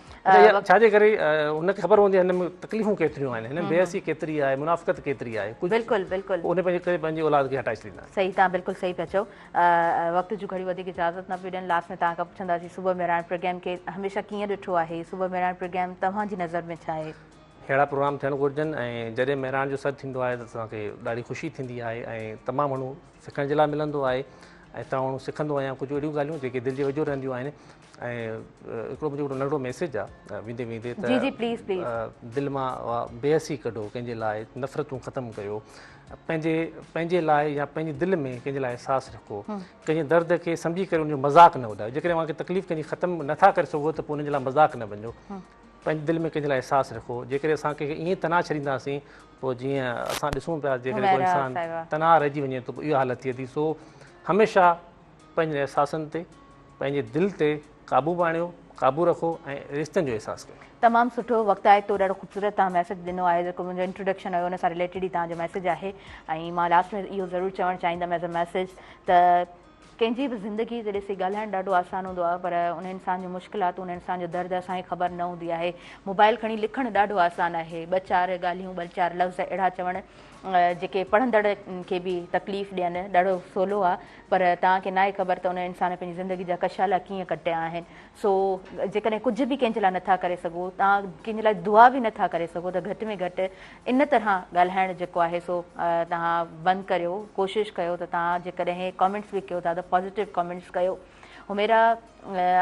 S1: اچا ڇا جي ڪري
S2: هن کي خبر هوندي هن ۾ تڪليفون ڪيتريون آهن هن ۾ بيعصي ڪيتري آهي منافقت ڪيتري آهي بلڪل بلڪل ان پنهنجي
S1: ڪري پنهنجي اولاد
S2: کي هٽائي ڇڏيندا آهن صحيح تان بلڪل صحيح پيا چئو
S1: وقت جون گهڙيون وڌيڪ اجازت نه پيون ڏين لاس ۾ تان کان پڇنداسين صبح مهراڻ پروگرام کي هميشه ڪيئن ڏٺو آهي صبح مهراڻ پروگرام توهان جي نظر ۾ ڇا آهي ههڙا پروگرام ٿيڻ
S2: گهرجن ۽ جڏهن مهراڻ جو سڏ ٿيندو آهي ته اسان کي ڏاڍي خوشي ٿيندي آهي ۽ تمام گهڻو سکڻ جي لاء ملندو آهي ۽ تمام گهڻو سکندو آهيان ڪجهه اهڙيون ڳالهيون جيڪي دل جي ويجهو رهنديون آهن ۽ هڪڙو منهنجو ننڍڙو ميسيج آ ويندي ويندي ته
S1: دل مان
S2: بيحسي ڪڍو ڪنهن جي لاء نفرتون ختم ڪيو پنهنجي پنهنجي لاء يا پنهنجي دل ۾ ڪنهن جي لاء احساس رکو ڪنهن جي درد کي سمجهي ڪري ان جو مذاق نه اڏايو جيڪڏهن اوهان کي تڪليف ڪنهن جي ختم نٿا ڪري سگهو ته پوء ان جي لاء مذاق نه بنجو پنهنجي دل ۾ ڪنهن جي لاء احساس رکو جيڪڏهن اسان کي ائين تناء ڇڏينداسين پوء جيئن اسان ڏسون پيا جيڪڏهن ڪو انسان تناء رهجي وڃي ته اها حالت ٿئي ٿي سو هميشه پنهنجن احساسن تي، پنهنجي دل تي قابو آڻيو، قابو رکو ۽ رشتن جو احساس ڪيو. تمام سٺو وقت
S1: آهي تو ڏاڍو خوبصورت توهان ميسج ڏنو آهي جيڪو منهنجو انٽروڊڪشن هيو ان سان رليٽيڊ ئي توهان جو ميسج آهي ۽ مان لاسٽ ۾ اهو ضرور چوڻ چاهيندم ايز ا ميسج ته ڪنهن جي به زندگي تي ڏسي ڳالهائڻ ڏاڍو آسان هوندو آهي پر ان انسان جون مشڪلاتون ان انسان جو درد اسان کي خبر نه هوندي آهي موبائل کڻي لکڻ ڏاڍو آسان آهي ٻه چار ڳالهيون ٻه چار لفظ اهڙا چوڻ جيڪي پڙهندڙ کي به تڪليف ڏين ڏاڍو سولو آهي پر توهان کي ناهي خبر ته ان انسان پنهنجي زندگي جا ڪشالا ڪيئن ڪٽيا آهن سو جيڪڏهن ڪجهه به ڪنهن جي لاء نٿا ڪري سگهو توهان ڪنهن جي لاء دعا به نٿا ڪري سگهو ته گهٽ ۾ گهٽ ان طرح ڳالهائڻ جيڪو آهي سو توهان بند ڪريو ڪوشش ڪيو ته توهان جيڪڏهن ڪامينٽس به ڪيو ٿا ته پازيٽو ڪامينٽس ڪيو هميرا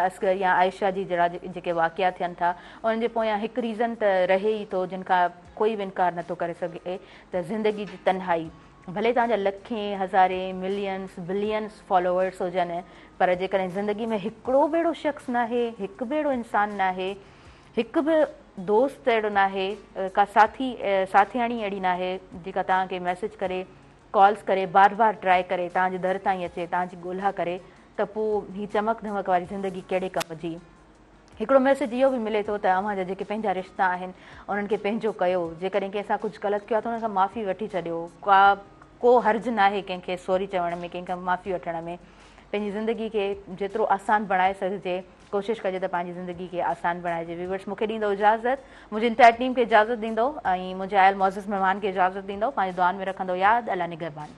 S1: اصغر يا عائشه جي جهڙا جيڪي واقعا ٿين ٿا انهن جي پويان هڪ ريزن ته رهي ئي ٿو جن کان ڪوئي به انڪار نه ٿو ڪري سگهي ته زندگي جي تنهائي ڀلي توهان جا لکين، هزارين، ملينز، بلينز فالوورز هجن پر جيڪڏهن زندگي ۾ هڪڙو به اهڙو شخص ناهي، هڪ به اهڙو انسان ناهي، هڪ به دوست اهڙو ناهي، ڪا ساٿي، ساٿياڻي اهڙي ناهي جيڪا توهان کي ميسيج ڪري، ڪالز ڪري، بار بار ٽرائي ڪري، توهان جي در تائين اچي، توهان جي ڳولها ڪري ته پوء هي چمڪ ڌمڪ واري زندگي ڪهڙي ڪم جي؟ هڪڙو ميسيج اهو به ملي ٿو ته اوهان جا جيڪي پنهنجا رشتا آهن انهن کي پنهنجو ڪيو جيڪڏهن ڪنهن سان ڪجهه غلط ڪيو آهي ته انهن کان معافي وٺي ڇڏيو ڪا ڪو حرج ناهي ڪنهن کي سوري چوڻ ۾ ڪنهن کان معافي وٺڻ ۾ پنهنجي زندگي کي جيترو آسان بڻائي سگهجي ڪوشش ڪجي ته پنهنجي زندگي کي آسان بڻائجي ويورس مونکي ڏيندو اجازت منهنجي انٽائر ٽيم کي اجازت ڏيندو ۽ منهنجي آيل معزز مهمان کي اجازت ڏيندو پنهنجي دعائن ۾ رکندو ياد الله نگهبان.